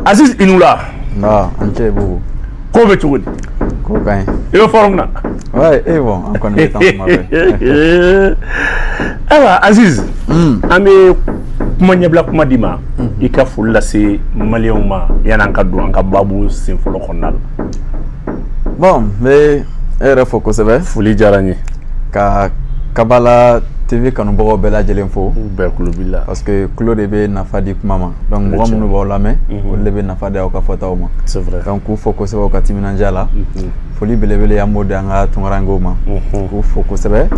Aziz i ni wula. Nba, i ni ce bugu. Ko bɛ cogo di? Ko ka ɲi. I bɛ forme na? Ouais, eh bon, an kɔni bɛ taa kuma bɛɛ. Ayiwa Aziz, hmm. an bɛ kuma ɲɛbila kuma d'i ma, hmm. i ka foli lase maliyɛnw ma yan'an ka don an ka baabu sen fɔlɔ kɔnɔna la. bon n bɛ e yɛrɛ fo kosɛbɛ foli diyara n ye ka kabala tv kanubagaw bɛɛ lajɛlen fo bɛɛ tulo b'i la parce que tulo de bɛ nafa di kuma ma donc mɔgɔ minnu b'aw lamɛn mhm. olu de bɛ nafa di aw ka fɔtaw ma c'est vrai donc k'u fo kosɛbɛ u ka timinandiya la mhm. foli belebele an b'o di an ka tunkarankew ma mhm. k'u fo kosɛbɛ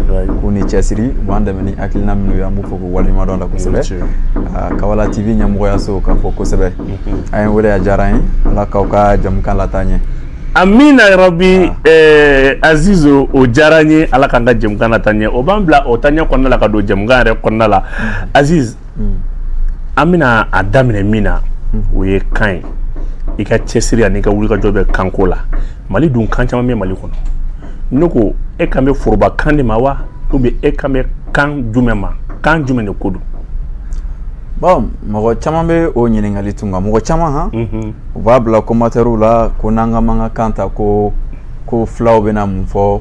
k'u ni cɛsiri u b'an dɛmɛ ni hakilina minnu ye an b'u fo k'u waleɲumandɔn la kosɛbɛ ah, kabala tv ɲɛmɔgɔyaso ka fo kosɛbɛ an ye wele a diyara an ye ala k'aw ka jɛmukan lataa ɲɛ amina yarabi eh, aziz o diyara n ye ala k'an ka jɛmukan lataa ɲɛ o b'an bila o taa ɲɛ kɔnɔna la ka don jɛmukan yɛrɛ kɔnɔna la aziz an bɛna a daminɛ min na o ye kan ye i ka cɛsiri ani i ka wulikajɔ bɛ kanko la mali dun kan caman bɛ mali kɔnɔ ne ko e kan bɛ forobakan de ma wa ou bien e kan bɛ kan jumɛn ma kan jumɛn de ko don Bon mɔgɔ caman bɛ o ɲininkali tun nka mɔgɔ caman han u b'a bila commentairew la ko n'an ka bamanankan ta ko ko fulaw bɛna mun fɔ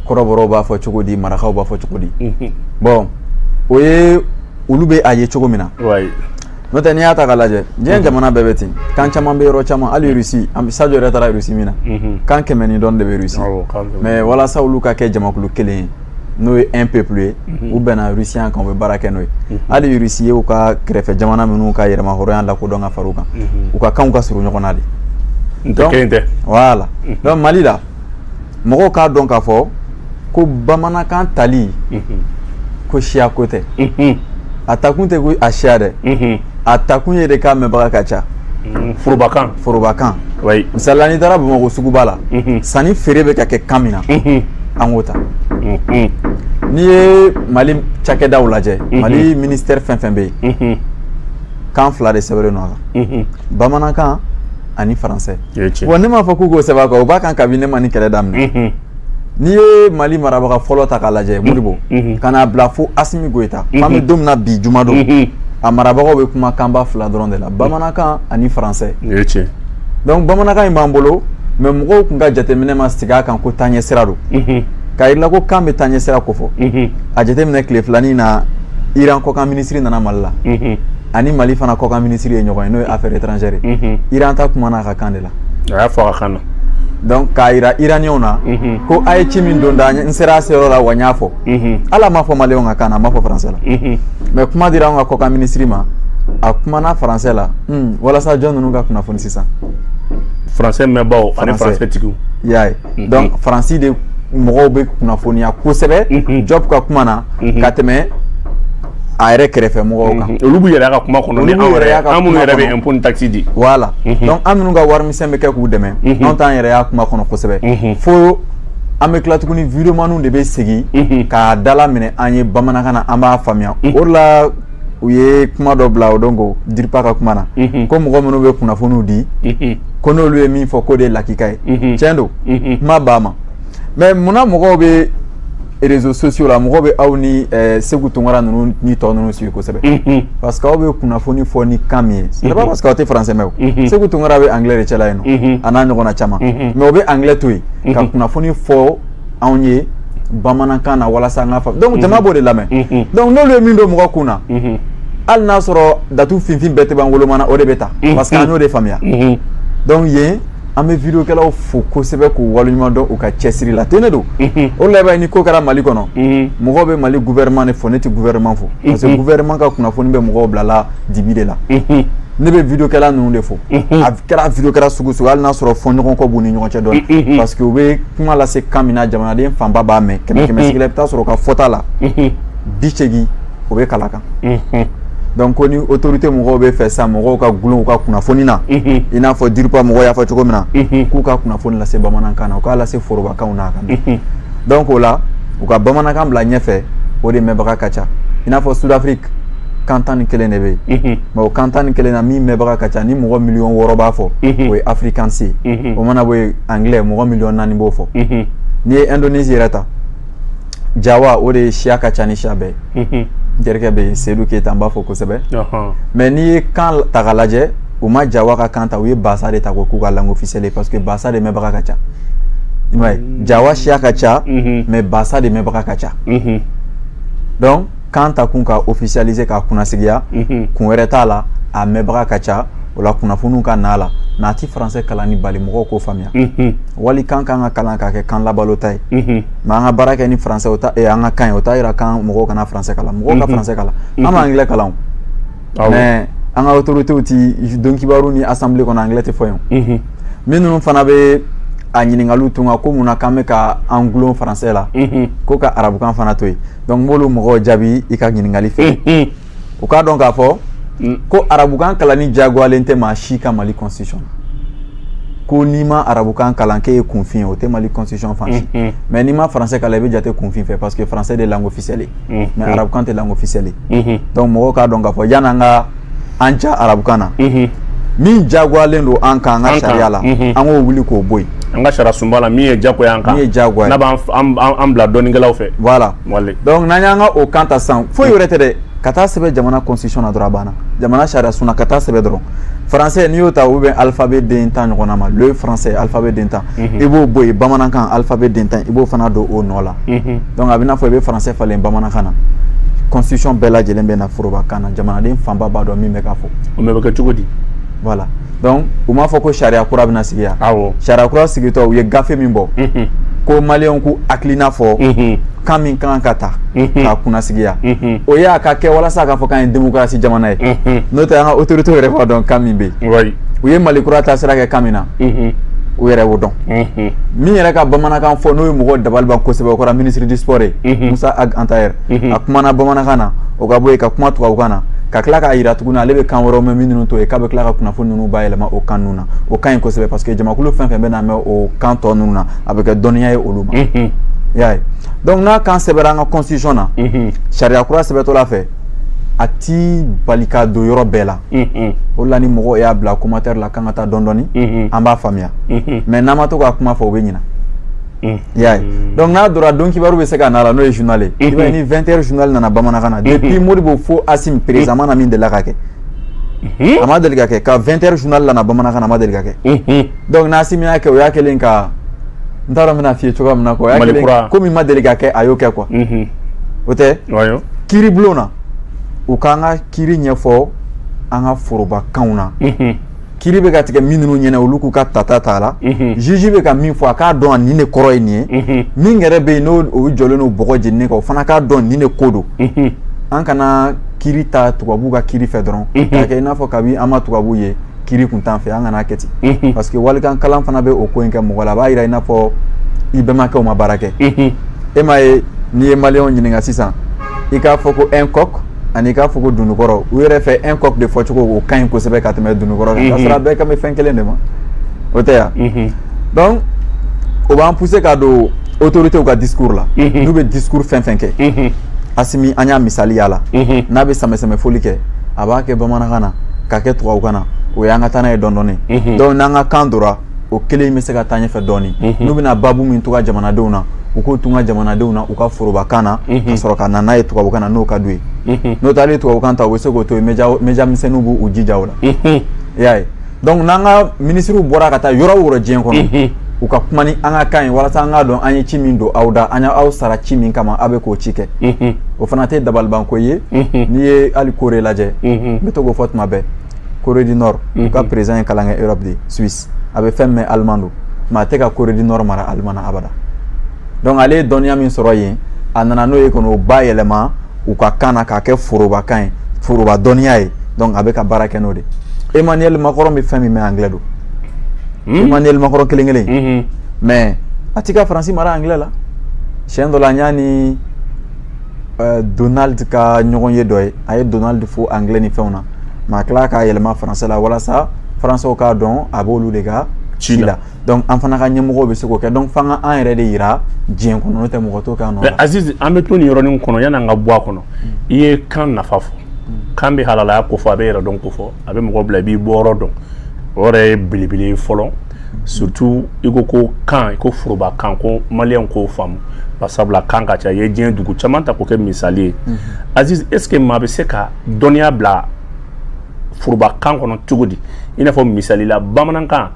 kɔrɔbɔrɔw b'a fɔ cogo di marakaw b'a fɔ cogo di bon o ye olu bɛ a ye cogo min na n'o tɛ n'i y'a ta ka lajɛ diɲɛ jamana bɛɛ bɛ ten kan caman bɛ yɔrɔ caman hali an saj yɛrɛ taara rusi min na kan kɛmɛ ni dɔ de bɛ rusi mais walasa olu ka kɛ jamakulu kelen ye n'o ye un peuple ye mhm. u bɛnna rusiya kan u bɛ baara kɛ n'o ye mhm. hali rusi ye u ka kɛrɛfɛ jamana minnu ka yɛrɛmahɔrɔnya lakodɔn ka fara u kan mhm. u ka kanw ka surun ɲɔgɔn na de donc kelen tɛ voilà donc mali la mɔgɔw k'a dɔn k'a fɔ ko bamanankan tali ko siya ko tɛ a takun tɛ ko a siya dɛ a takun ye de k'a mɛnbaga ka ca mhm. forobakan forobakan misali la n'i taara bamakɔ suguba la mhm. sanni feere bɛ ka kɛ kan min na mhm. an k'o ta n'i ye mali cakɛdaw lajɛ mali ministɛri fɛn fɛn bɛ yen kan fila de sɛbɛnlen don a kan bamanankan ani faransɛ wa ne m'a fɔ k'u k'o sɛbɛn a kan o b'a kan kabini ne ma nin kɛlɛ daminɛ n'i ye mali marabaga fɔlɔ ta k'a lajɛ modibo mm-hmm. mm-hmm. ka n'a bila fo asimi goyita mm-hmm. an bɛ don min na bi juma don a marabagaw bɛ kuma kanba fila dɔrɔn de la bamanankan ani faransɛ donc bamanankan in b'an bolo mais mɔgɔw tun ka jateminɛ ma sigi a kan ko taaɲɛ sira don k'a yir'i la ko kan bɛ taaɲɛ sira kofɔ a jateminɛ tile fila nin na iran kɔkan minisiri nana mali la ani mali fana kɔkan minisiri ye ɲɔgɔn ye n'o ye affaire étrangère ye iran ta kumana a ka kan de la a y'a fɔ a kan na donc k'a yira iranienw na ko a ye ci min don da n sera a seyɔrɔ la wa n y'a fɔ ala m'a fɔ maliyɛnw ka kan na a m'a fɔ faransɛ la mais kuma dira anw ka kɔkan minisiri ma a kumana faransɛ la hmm, walasa jɔn ninnu ka kunnafoni sisan faransɛ mɛnbaaw ani faransɛ tigiw y'a ye mhm. donc faransi de mɔgɔw bɛ kunnafoniya kosɛbɛ mhm. Diop ka kuma na mhm. ka tɛmɛ a yɛrɛ kɛrɛfɛ mɔgɔw kan mhm. olu b'u yɛrɛ y'a ka kuma kɔnɔ ni anw yɛrɛ y'a ka kuma kɔnɔ an minnu yɛrɛ bɛ impôt ni taxe di voilà mhm. donc an minnu ka warimisɛn bɛ kɛ k'u dɛmɛ mhm. anw t'an yɛrɛ y'a kuma kɔnɔ kosɛbɛ fo an bɛ tila tuguni videomaniw de bɛ segin k'a dalaminɛ an ye bamanankan na an b'a faamuya o de la u ye kuma dɔ bila o don ko DIRPA ka kuma na ko mɔgɔ minnu bɛ kunnafoniw di ko n'olu ye min fɔ k'o de ye lakika ye tiɲɛ don kuma b'a ma mais munna mɔgɔw bɛ réseaux sociaux la mɔgɔw bɛ aw ni eh, Segu Tunkara ninnu ni tɔ ninnu suivi kosɛbɛ mm-hmm. parce que aw bɛ kunnafoni fɔ ni kan min ye c'est pas mm-hmm. parce que aw tɛ français mɛn o mm-hmm. Segu Tunkara bɛ anglais de cɛ la yen nɔ a n'a ɲɔgɔnna caman mais o bɛ anglais to yen ka kunnafoni fɔ anw ye bamanankan na walasa an k'a faamu donc jama b'o de lamɛn donc n'olu ye min don mɔgɔ kun na hali n'a sɔrɔ datu finfin bɛɛ tɛ ban wolomana o de bɛ ta parce que an y'o de faamuya donc yen an bɛ vidéokɛlaw fo kosɛbɛ k'u waleɲuman dɔn u ka cɛsiri la ten ne don o la bi ni ko kɛra Mali kɔnɔ mɔgɔw bɛ Mali gouvernement de fo ne tɛ gouvernement fo parce que gouvernement ka kunnafoni bɛ mɔgɔw bilala dibi de la ne bɛ vidéokɛla ninnu de fo a kɛra vidéokɛla sugu sugu hali n'a sɔrɔ fɔɲɔgɔnkɔ b'u ni ɲɔgɔn cɛ dɔɔni parce que u bɛ kuma lase kan min na jamanaden fanba b'a mɛn kɛmɛ kɛmɛ sigi la i bɛ taa sɔrɔ u ka fɔta la bi seegin o bɛ kala kan dɔnku ko ni otorite mɔgɔw b'a fɛ sa mɔgɔw ka gulon u ka kunnafoni na i n'a fɔ diripa mɔgɔw y'a fɔ cogo min na k'u ka kunnafoni lase bamanankan na u k'a lase forobakanw na a ka na dɔnku k'o la u ka bamanankan bila ɲɛfɛ o de mɛnbaga ka ca i n'a fɔ sudafiriki kan tan ni kelen de bɛ yen mɛ o kan tan ni kelen na min mɛnbaga ka ca ni mɔgɔ miliyɔn wɔɔrɔ b'a fɔ o ye afirikansi ye o mana bɔ yen angilɛ mɔgɔ miliyɔn naani b'o fɔ n'i ye ɛndonezi yɛrɛ ta jawa de siya ka ca ni siya bɛɛ n terikɛ bɛ yen seyidu keyita n b'a fo kosɛbɛ mɛ n'i ye kan ta k'a lajɛ u ma jawakan ta u ye ba de ta ko k'u ka lakisɛsɛ parce que ba de mɛnbaga ka ca jawa siya ka ca mɛ ba de mɛnbaga ka ca donc kan ta kun k'a ofisalize k'a kunsigiya kun wɛrɛ t'a la a mɛnbaga ka ca o la kunnafoniw ka' la mɛ a tɛ faransɛ kalanni bali mɔgɔw k'o faamuya walikan k'an k'a kalan k'a kɛ kan labalota ye mɛ an ka baara kɛ ni faransɛ an ka kan ye o t'a jira k'an mɔgɔw kana faransɛ kalan mɔgɔw ka faransɛ kalan an ma angilɛ kalan mɛ an ka autorités tɛ don kibaru ni assemblée kɔnɔ angilɛ tɛ fɔ yen minnu fana bɛ a ɲininkaliw tun ka ko mun na k'an bɛ ka an gulon faransɛ la ko ka arabukan fana to yen donc n b'olu mɔgɔw jaabi i ka ɲininkali fɛ u k'a dɔn k'a fɔ mm. ko arabukan kalanni diyagoyalen tɛ maa si kan mali constitution ko n'i ma arabukan kalan k'e ye kunfin ye o tɛ mali constitution fan si mm-hmm. mais n'i ma français kalan i bɛ jate kunfin fɛ parce que français de langue officielle ye mm-hmm. mais arabukan tɛ langue officielle ye mm-hmm. donc mɔgɔw k'a dɔn k'a fɔ yann'an ka an ja arabukan na min diyagoyalen don an kan an ka sariya la an k'o wuli k'o bɔ yen an ka sariya sunba la min ye diyagoya an kan min ye diyagoya n'a b'an bila dɔnnikɛlaw fɛ voilà donc n'an y'an ka o kan ta san foyi wɛrɛ tɛ dɛ ka t'a sɛbɛn jamana constitution dɔrɔn a banna jamana sariya sun ka t'a sɛbɛn dɔrɔn français n'i y'o ta u bɛ alphabet den tan ɲɔgɔn ma lu ye français alphabet den tan i b'o bɔ yen bamanankan alphabet den tan i b'o fana don o nɔ la a b'i n'a fɔ i bɛ français falen bamanankan na constitution bɛɛ lajɛlen bɛ na forobakan na jamanaden fanba b'a dɔn min bɛ ka fɔ bɛ kɛ cogo di la donc u m'a fɔ ko sariya kura bɛna sigi yan awɔ sariya kura sigitɔ u ye gafe min bɔ mhm. ko maliyɛnw k'u hakilina fɔ mhm. kan min kan ka ta mhm. k'a kunnasigiya o ye a ka kɛ walasa a k'a fɔ k'an ye demokarasi jamana ye n'o tɛ an ka autoritéw yɛrɛ b'a dɔn kan min bɛ yen u ye mali kura taasira kɛ kan min na u yɛrɛ b'o dɔn min yɛrɛ ka bamanankan fɔ n'o ye mɔgɔw dabali ban kosɛbɛ o kɛra ministre du sport ye Mossa Ag Attaher a kumana bamanankan na o ka bɔ yen ka kuma tubabukan na ka tila k'a jira tuguni ale bɛ kan wɛrɛw mɛn minnu to yen k'a bɛ tila ka kunnafoni ninnu bayɛlɛma o kan ninnu na o ka ɲi kosɛbɛ parce que jamakulu fɛn fɛn bɛn'a mɛn o kan tɔ ninnu na a bɛ kɛ dɔnniya ye olu ma y'a ye donc n'a kan sɛbɛra an ka constitution na sariya kura sɛbɛtɔla fɛ a ti bali ka don yɔrɔ bɛɛ la o la ni mɔgɔw y'a bila commentaire la k'an ka taa dɔɔnin dɔɔnin an b'a faamuya mais n'an ma to k'a kuma fɔ o bɛ ɲina Mm. y'a ye mm. donc n'a donna donkibaru bɛ se ka n'a la n'o ye journal ye i b'a ye ni 20 heures journal nana bamanankan na depuis Modibo fo Asimi président ma na min delila k'a kɛ mm-hmm. a ma deli ka kɛ ko 20 heures journal nana bamanankan na a ma deli ka kɛ mm-hmm. donc n'Asimi y'a kɛ o y'a kɛlen ka n t'a dɔn n bɛn'a f'i ye cogoya min na quoi o y'a kɛlen ko min ma deli ka kɛ a y'o kɛ quoi mm-hmm. o tɛ kiiribulon na u k'an ka kiiri ɲɛfɔ an ka forobakanw na kiiri bɛ ka tigɛ min ninnu ɲɛna olu k'u ka tata t'a la mhm. juge bɛ ka min fɔ a k'a dɔn a nin de kɔrɔ ye nin ye mhm. min yɛrɛ bɛ yen n'o jɔlen don bɔgɔ jeninen kan o fana k'a dɔn nin de ko don mhm. an kana kiiri ta tubabuw ka kiiri fɛ dɔrɔn k'a kɛ i n'a fɔ kabi an ma tubabuw ye kiiri kun t'an fɛ an kan'a kɛ ten parce que walikan kalan fana bɛ o ko in kɛ mɔgɔ la a b'a jira i n'a fɔ i bɛnbakɛw ma baara kɛ e m'a ye n'i ye maliyɛnw ɲininka sisan i k'a fɔ ko un coq ani k'a fɔ ko dunukɔrɔ u yɛrɛ fɛ un coq de fɔcogo o ka ɲi kosɛbɛ ka tɛmɛ dunukɔrɔ kan k'a mhm. sɔrɔ a bɛɛ kan bɛ fɛn kelen de ma o tɛ yan mhm. donc o b'an pousser ka don autoritéw ka discours la mhm. n'u bɛ discours fɛn fɛn kɛ Asimi an y'a misali y'a la n'a bɛ sanbɛsanbɛ foli kɛ a b'a kɛ bamanankan na k'a kɛ tubabukan na o y'an ka taa n'a ye dɔɔnin dɔɔnin donc n'an ka kan dora o kelen bɛ se ka taa ɲɛfɛ dɔɔnin mhm. n'u bɛna babu min tuga jamanadenw na u k'o tuga jamanadenw na u ka forobakan na mhm. ka sɔrɔ ka na n'a ye tubabukan na n'o ka d'u ye mhm. n'o tɛ hali tubabukan ta u bɛ se k'o to yen média misɛnninw b'u jija o la i y'a ye donc n'an ka minisiriw bɔra ka taa yɔrɔ o yɔrɔ diɲɛ kɔnɔ u ka kuma ni an ka kan ye walasa an k'a dɔn an ye ci min don aw da an y'aw sara ci min kama aw bɛ k'o ci kɛ o fana tɛ dabalibanko ye n'i ye hali Corée lajɛ n bɛ to k'o fɔ tuma bɛɛ Corée du Nord u ka président ye kalan kɛ Europe de Suisse a bɛ fɛn min Allemand don mais a tɛ ka Corée du Nord mara Allemand na abada donc ale ye dɔnniya min sɔrɔ yen a nana n'o ye ka n'o bayɛlɛma u ka kan na k'a kɛ forobakan ye foroba dɔnniya ye donc a bɛ ka baara kɛ n'o de Emmanuel Macron bɛ fɛn min mɛn anglais don hmm? Emmanuel Macron kelen kelen hmm. mais a tɛ ka Faransi mara anglais la siyɛn dɔ la n y'a ni euh, Donald ka ɲɔgɔnye dɔ ye a ye Donald fo anglais ni fɛnw na mais a tila k'a yɛlɛma faransɛ la walasa faransɛw k'a dɔn a b'olu de ka ci la donc an fana ka ɲɛmɔgɔw bɛ se k'o kɛ donc f'an ka an yɛrɛ de yira diɲɛ kɔnɔ n'o tɛ mɔgɔ t'o kɛ an nɔ la. Aziz an bɛ to nin yɔrɔnin kɔnɔ yanni an ka bɔ a kɔnɔ i ye kan nafa fɔ kan bɛ halalaya kofɔ a bɛ yɛrɛdɔn kofɔ a bɛ mɔgɔ bila i b'i bɔyɔrɔ dɔn o yɛrɛ ye belebele ye fɔlɔ surtout i ko ko kan i ko forobakan ko maliyɛnw k'o faamuya sabula kan ka ca i ye diɲɛ dugu caman ta k'o kɛ misali ye Aziz est ce que maa bɛ se ka dɔnniya bila forobakan kɔnɔ cogo di i n'a fɔ misali la bamanankan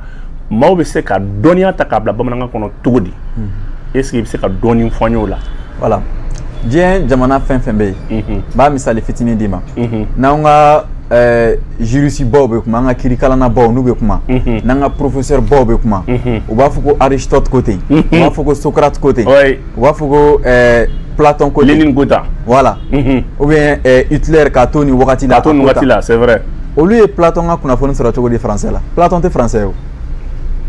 maaw bɛ se ka dɔnniya ta k'a bila bamanankan kɔnɔ cogo di mhm. est ce que i bɛ se ka dɔɔni fɔ n y'o la voilà diɲɛ jamana fɛn fɛn bɛ yen mhm. n b'a misali fitinin d'i ma mhm. n'an ka Eh, juriste baw bɛ kuma an ka kirikalanna baw n'u bɛ kuma mhm. n'an ka professeur baw bɛ kuma mhm. u b'a fɔ ko aristote ko ten u mhm. b'a fɔ ko socrate ko ten u b'a fɔ ko ɛɛ Platon ko ten, Lénine ko tan, voilà, unhun, ou bien ɛɛ Hitler k'a to nin wagati la, k'a to nin wagati la, c'est vrai olu ye Platon ka kunnafoni sɔrɔ cogo di français la Platon tɛ français ye wo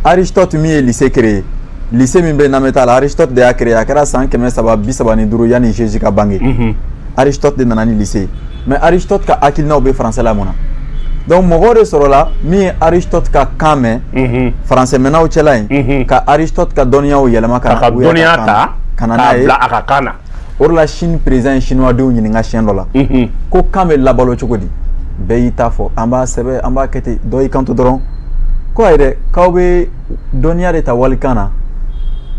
Aristote min ye lycée créé lycée min bɛ Nameta la Aristote de y'a créé a kɛra san kɛmɛ saba bi saba ni duuru yanni Jésus ka bange, unhun, Aristote de nana ni lycée ye mais aristote ka hakilinaw bɛ faransɛ la mun na donc mɔgɔw de sɔrɔla min ye aristote ka kan mɛn mhm. faransɛmɛnnaw cɛla yen mhm. ka aristote ka dɔnniyaw yɛlɛma k'a ka dɔnniya ta ka na n'a ye a ka kan na o de la chine président ye chinoisdenw ɲininka siɲɛ dɔ la mhm. ko kan bɛ labalo cogo di bɛɛ y'i ta fɔ an b'a sɛbɛn an b'a kɛ ten dɔ y'i kanto dɔrɔn ko a yɛrɛ k'aw bɛ dɔnniya de ta walikan na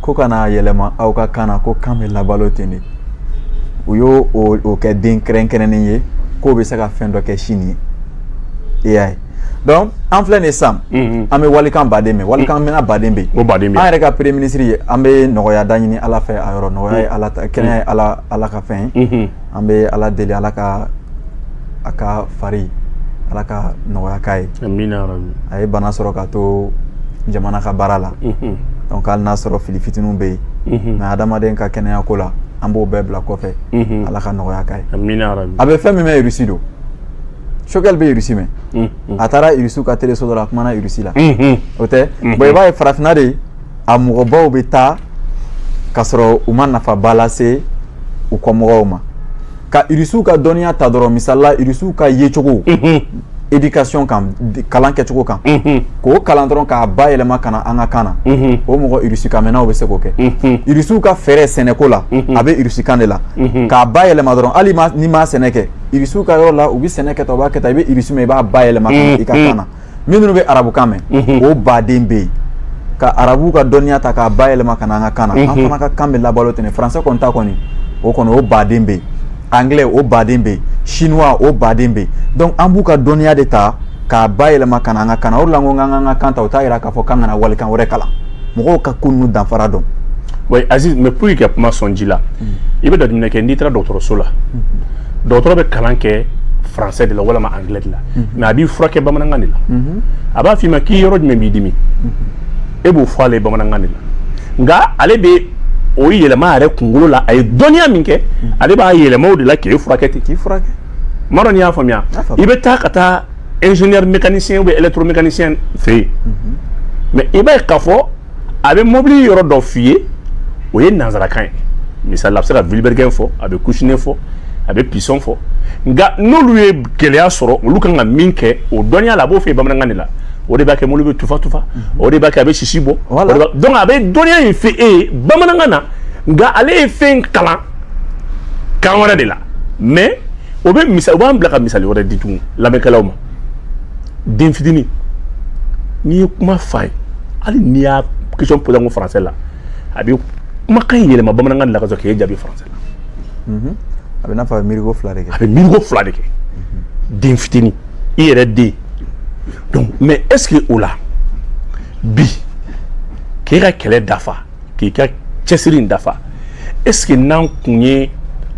ko ka n'a yɛlɛma aw ka kan na ko kan bɛ labalo ten de u y'o kɛ den kɛrɛnkɛrɛnnen ye k'o bɛ se ka fɛn dɔ kɛ sini ye e y'a ye donc an filɛ nin sisan mhm. an bɛ walikan ba de mɛn walikan mhm. mɛnna ba de bɛ yen an yɛrɛ ka premier ministre ye an bɛ nɔgɔya da ɲini ala fɛ a yɔrɔ nɔgɔya ye mhm. ala ta kɛnɛya ye ala ala ka fɛn ye an bɛ ala deli ala ka a ka fari ala ka nɔgɔya k'a ye a ye bana sɔrɔ ka to jamana ka baara la donc hali n'a sɔrɔ fili fitinin bɛ yen mais adamaden ka kɛnɛya ko la an b'o bɛɛ bila kɔfɛ ala ka nɔgɔya k'a ye a bɛ fɛn min mɛn irisi don choguel bɛ irisi mɛn a taara irisiw ka teleso dɔ la a kumana irisi la o tɛ bon i b'a ye farafinna de a mɔgɔbaw bɛ taa ka sɔrɔ u ma nafaba lase u kɔ mɔgɔw ma ka irisiw ka dɔnniya ta dɔrɔn misali la irisiw ka yecogo éducation kan kalan kɛcogo kan k'o kalan dɔrɔn k'a bayɛlɛma ka na an ka kan na o mɔgɔ irisikanmɛnnaw bɛ se k'o kɛ irisiw ka fɛɛrɛ sɛnɛko la a bɛ irisikan de la k'a bayɛlɛma dɔrɔn hali n'i ma sɛnɛ kɛ irisiw ka yɔrɔ la u bɛ sɛnɛ kɛ tan u b'a kɛ tan i bɛ irisi mɛn i b'a bayɛlɛma ka na i ka kan na minnu bɛ arabukan mɛn mhm. o baden bɛ yen ka arabu ka dɔnniya ta k'a bayɛlɛma ka na an ka kan na an mhm. fana ka kan bɛ labalo ten faransɛ kɔni ta kɔni o kɔni o baden bɛ yen anglais o baden bɛ yen chinois o baden bɛ yen donc an b'u ka dɔnniya de ta k'a bayɛlɛma ka na an ka kan na o de la n ko n k'an ka kan ta o t'a yira k'a fɔ k'an kana walikan wɛrɛ kalan mɔgɔw ka ko ninnu danfara dɔn. oui aziz mais pour que ka kuma sɔn ji la mm. i bɛ jateminɛ kɛ n'i taara dɔgɔtɔrɔso la mm-hmm. dɔgɔtɔrɔ bɛ kalan kɛ français de la walima anglais de la. mais a b'i furakɛ bamanankan de la a b'a f'i ma k'i yɔrɔ jumɛn b'i dimi e b'o fɔ ale ye bamanankan de la nka ale bɛ o yɛlɛma a yɛrɛ kunkolo la a ye dɔnniya min kɛ ale b'a yɛlɛma o de la k'e furakɛ ten k'i furakɛ n m'a dɔn n'i y'a faamuya i bɛ taa ka taa ingénieur mécanicien ou bien électromécanicien fɛ yen mais i b'a ye k'a fɔ a bɛ mobili yɔrɔ dɔ f'i ye o ye nanzarakan ye misali a bɛ se ka vilebrequin fɔ a bɛ coussinet fɔ a bɛ piston fɔ nka n'olu ye gɛlɛya sɔrɔ olu kan ka min kɛ o dɔnniya la a b'o f'e ye bamanankan de la o de b'a kɛ mobili bɛ tufa tufa mhm. o de b'a kɛ a bɛ sisi bɔ donc a bɛ dɔnniya in fɔ e ye bamanankan na nka ale ye fɛn kalan kan wɛrɛ de la mais o bɛ misali u b'an bila ka misali wɛrɛ di tugun lamɛnkɛlaw ma den fitinin n'i ye kuma f'a ye hali n'i y'a question posé ko français la a bɛ kumakan in yɛlɛma bamanankan de la ka sɔrɔ k'e jaabi français la mhm. a bɛ n'a fɔ a bɛ miiriko fila de kɛ a bɛ miiriko fila de kɛ den fitinin i yɛrɛ den donc mais est ce que o la bi k'e ka kɛlɛ dafa k'i ka cɛsiri in dafa est ce que n'an kun ye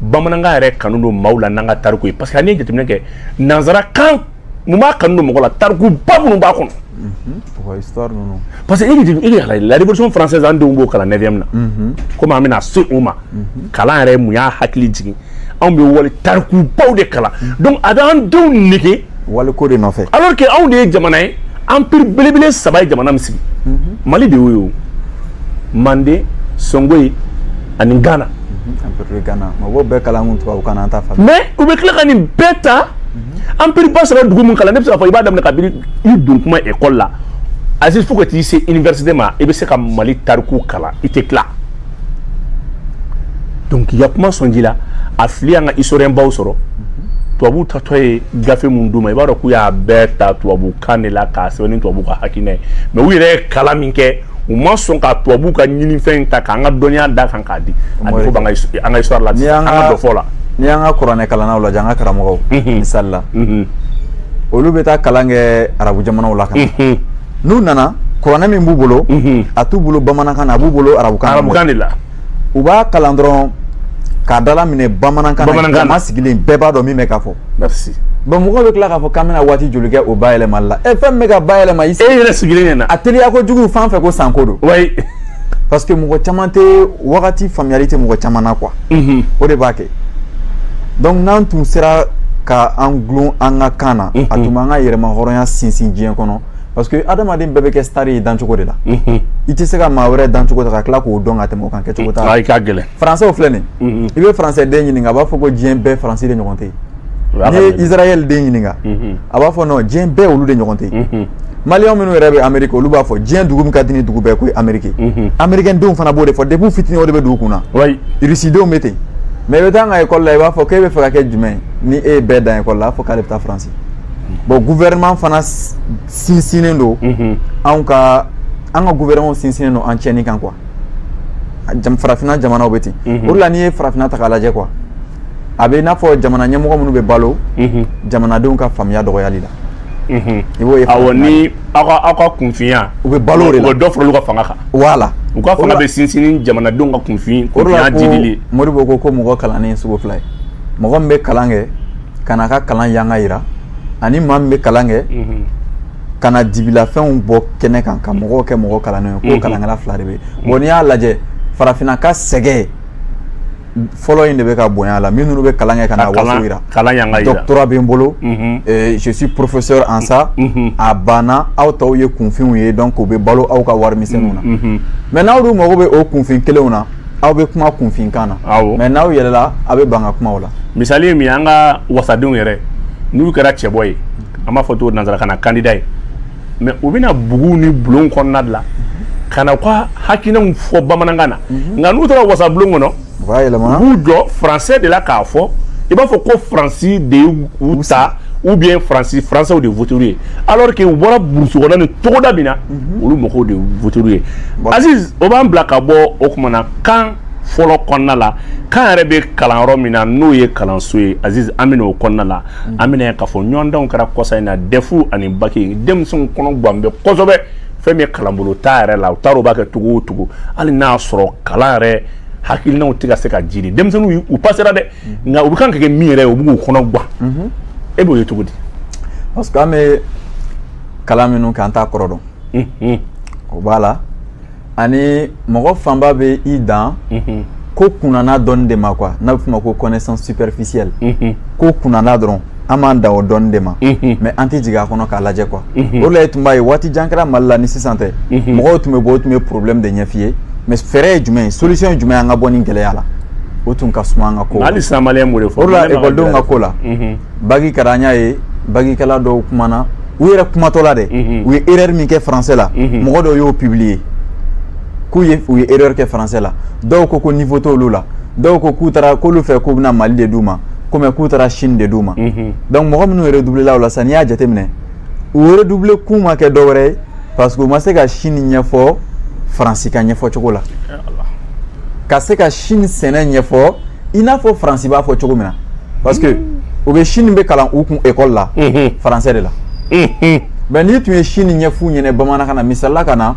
bamanankan yɛrɛ kanu don maaw la n'an ka tariku ye parce que a n'i ye jateminɛ kɛ nanzarakan mun b'a kanu don mɔgɔ la tarikuba minnu b'a kɔnɔ mhm. parce que e y'a lajɛ la révolution française an denw b'o kalan 9e na mhm. komi an bɛna se o ma mhm. kalan yɛrɛ mun y'a hakili jigin anw bɛ wali tarikubaw de kalan donc a bɛ an denw nege waliko de nɔfɛ alors que anw de ye jamana ye empire belebele saba ye jamana min sigi mhm. mali de y'o ye o manden songoyi ani ghana mhm. ghana mɔgɔw bɛɛ kalan kun tubabu kan na an t'a faamu mais u bɛ tila ka nin bɛɛ ta mhm. empire ba saba dugu min kalan ne bɛ se k'a fɔ i b'a daminɛ kabini i don kuma ekɔli la aziz fo ka t'i se université ma i bɛ se ka mali tariku kalan i tɛ tila donc n'i y'a kuma sɔnji la a fili y'an ka historien baw sɔrɔ tubabu taatɔ ye gafe min d'u ma i b'a dɔn k'u y'a bɛɛ ta tubabu kan de la k'a sɛbɛn ni tubabu ka hakilina ye mɛ u yɛrɛ ye kalan min kɛ u ma sɔn ka tubabu ka ɲinifɛn ta k'an ka dɔnniya da a kan k'a di a bɛ fɔ b'an ka an ka histoire la an ka dɔfɔ la n'i y'an ka kuranɛ kalannaw lajɛ an ka karamɔgɔw misali la olu bɛ taa kalan kɛ arabu jamanaw la ka na n'u nana kuranɛ min b'u bolo mhm. a t'u bolo bamanankan na a b'u bolo arabukan de la u b'a kalan dɔrɔn k'a dalaminɛ bamanankan na jama sigilen bɛɛ b'a dɔn min bɛ ka fɔ bon mɔgɔw bɛ tila k'a fɔ k'an bɛna waati joli kɛ o bayɛlɛmali la ɛ fɛn min bɛ ka bayɛlɛma i e yɛrɛ sigilen ɲɛna a teliya kojugu fan fɛ ko sanko don parce que mɔgɔ caman tɛ wagati faamuyali tɛ mɔgɔ caman na quoi mhm. o de b'a kɛ donc n'an tun sera ka an gulon an ka kan na a tun b'an ka yɛrɛmahɔrɔnya sinsin diɲɛ kɔnɔ parce que adamaden bɛɛ bɛ kɛ star ye dancogo de la mhm. i tɛ se ka maa wɛrɛ dancogo ta ka tila k'o dɔn ka tɛmɛ o kan kɛcogo t'a la faransi filɛ nin mhm. i bɛ faransi den ɲininka a b'a fɔ ko diɲɛ bɛɛ faransi de ɲɔgɔn tɛ yen n'i ye israel den ɲininka mhm. a b'a fɔ ko diɲɛ bɛɛ olu de ɲɔgɔn tɛ mhm. maliyɛn minnu yɛrɛ bɛ ameriki olu b'a fɔ diɲɛ dugu min ka di ni dugu bɛɛ k'o ye ameriki mhm. amerikɛn denw fana b'o de fɔ depuis fitini o de bɛ don u kun na irisidenw bɛ ten mɛ i bɛ taa an ka ekɔli la i b'a fɔ k'e bɛ fɛ ka kɛ jumɛn ni e ye bɛɛ dan ekɔli la a fɔ k'ale bɛ taa faransi bon gouvernement fana sinsinnen don anw ka an ka gouvernement sinsinnen don an tiɲɛni kan quoi farafinna jamanaw bɛ ten o de la n'i ye farafinna ta k'a lajɛ quoi a bɛ n'a fɔ jamana ɲɛmɔgɔ minnu bɛ balo mhm. jamanadenw ka faamuya dɔgɔyali la mhm. i b'o ye awɔ ni aw ka aw ka kunfinya u bɛ balo o de la u bɛ dɔ fara olu ka fanga kan wala u ka fanga bɛ sinsin ni jamanadenw ka kunfin kunfinya jiidili ye modibo ko ko mɔgɔ kalannen ye sugu fila ye mɔgɔ min bɛ kalan kɛ ka n'a ka kalan yanga yira ani maa min bɛ kalan kɛ mhm. ka na dibilafɛnw bɔ kɛnɛ kan ka mɔgɔw kɛ mɔgɔ kalannenw ye ko kalankɛla fila de bɛ yen bon n'i y'a lajɛ farafinna ka sɛgɛn fɔlɔ in de bɛ ka bonya la minnu bɛ kalan kɛ ka na waso yira kalan yanga yira doctorat bɛ n bolo mhm. eh, je suis professeur en ça mhm. Mhm. a banna aw tɔw ye kunfinw ye donc u bɛ balo aw ka wari misɛnninw na mais n'aw dun mago bɛ o kunfin kelenw na aw bɛ kuma kunfinkan na mais n'aw yɛlɛla aw bɛ ban ka kuma o la misali ye min ye an ka wasadenw yɛrɛ n'u kɛra cɛbɔ ye an b'a fɔ cogo nansarakan na kandida ye mɛ u bɛ na bugu ni bulon kɔnɔna de la ka na ka hakilinanw fɔ bamanankan na mhm. nka n'u taara wasabulon kɔnɔ u b'u jɔ faransɛ de la k'a fɔ i b'a fɔ ko faransi de y'u ta ou bien faransi faransɛw de voter'u ye alors que u bɔra burusi kɔnɔ ni togoda min na mhm. olu mɔgɔw de voter'u ye aziz o b'an bila ka bɔ o kuma na kan fɔlɔ kɔnɔna la kan yɛrɛ bɛ kalan yɔrɔ min na n'o ye kalanso ye aziz an bɛ na o kɔnɔna la mm. an bɛn'a ye k'a fɔ ɲɔgɔndanw kɛra kɔsa in na dɛfu ani baki denmisɛnw kɔnɔ gan bɛ kosɛbɛ fɛn min ye kalanbolo ta yɛrɛ la u t'a dɔn u b'a kɛ cogo o cogo hali n'a sɔrɔ kalan yɛrɛ hakilinaw tɛ ka se ka jiri denmisɛnninw u pasera dɛ mm. nka u bɛ kan ka kɛ min yɛrɛ ye o b'u kɔnɔ gan mm-hmm. e b'o ye cogo di. parce que an bɛ kalan minnu kɛ an t'a kɔrɔ dɔn. Mm-hmm. o b'a la. ani mɔgɔ fanba bɛ i dan ko kunnana dɔn de ma quoi n'a bɛ f'a ma ko connaissance superficielle ko kunnana dɔrɔn an b'an dan o dɔn de ma mɛ an tɛ jigin a kɔnɔ k'a lajɛ quoi o de la i tun b'a ye waati jan kɛra mali la ni sisan tɛ mɔgɔw tun bɛ bɔ u tun bɛ problème de ɲɛf'i ye mɛ fɛɛrɛ ye jumɛn ye solution ye jumɛn ye an ka bɔ nin gɛlɛya la o tun ka suma an ka ko hali sa ekɔlidenw ka ko la baki kɛra an y'a ye bakikɛla dɔw kumana u yɛrɛ kumatɔla dɛ mhm. u ye erreur min kɛ français la mhm. mɔgɔ dɔw y'o publier k'u ye u ye erreur kɛ français la dɔw ko ko niveau t'olu la dɔw ko k'u taara k'olu fɛ k'u bɛna mali de d'u ma ko mɛ k'u taara chine de d'u ma mhm. donc mɔgɔ minnu yɛrɛ doubléla o la sisan n'i y'a jateminɛ u yɛrɛ doublé kun ma kɛ dɔwɛrɛ ye parce que u ma se ka chine ɲɛfɔ faransi ka ɲɛfɔ cogo la ka se ka chine sɛnɛ ɲɛfɔ i n'a fɔ faransi b'a fɔ cogo min na parce que u bɛ chine bɛ kalan u kun ekɔli la faransɛ de la mɛ n'i tun ye chine ɲɛf'u ɲɛ na bamanankan na misali la ka na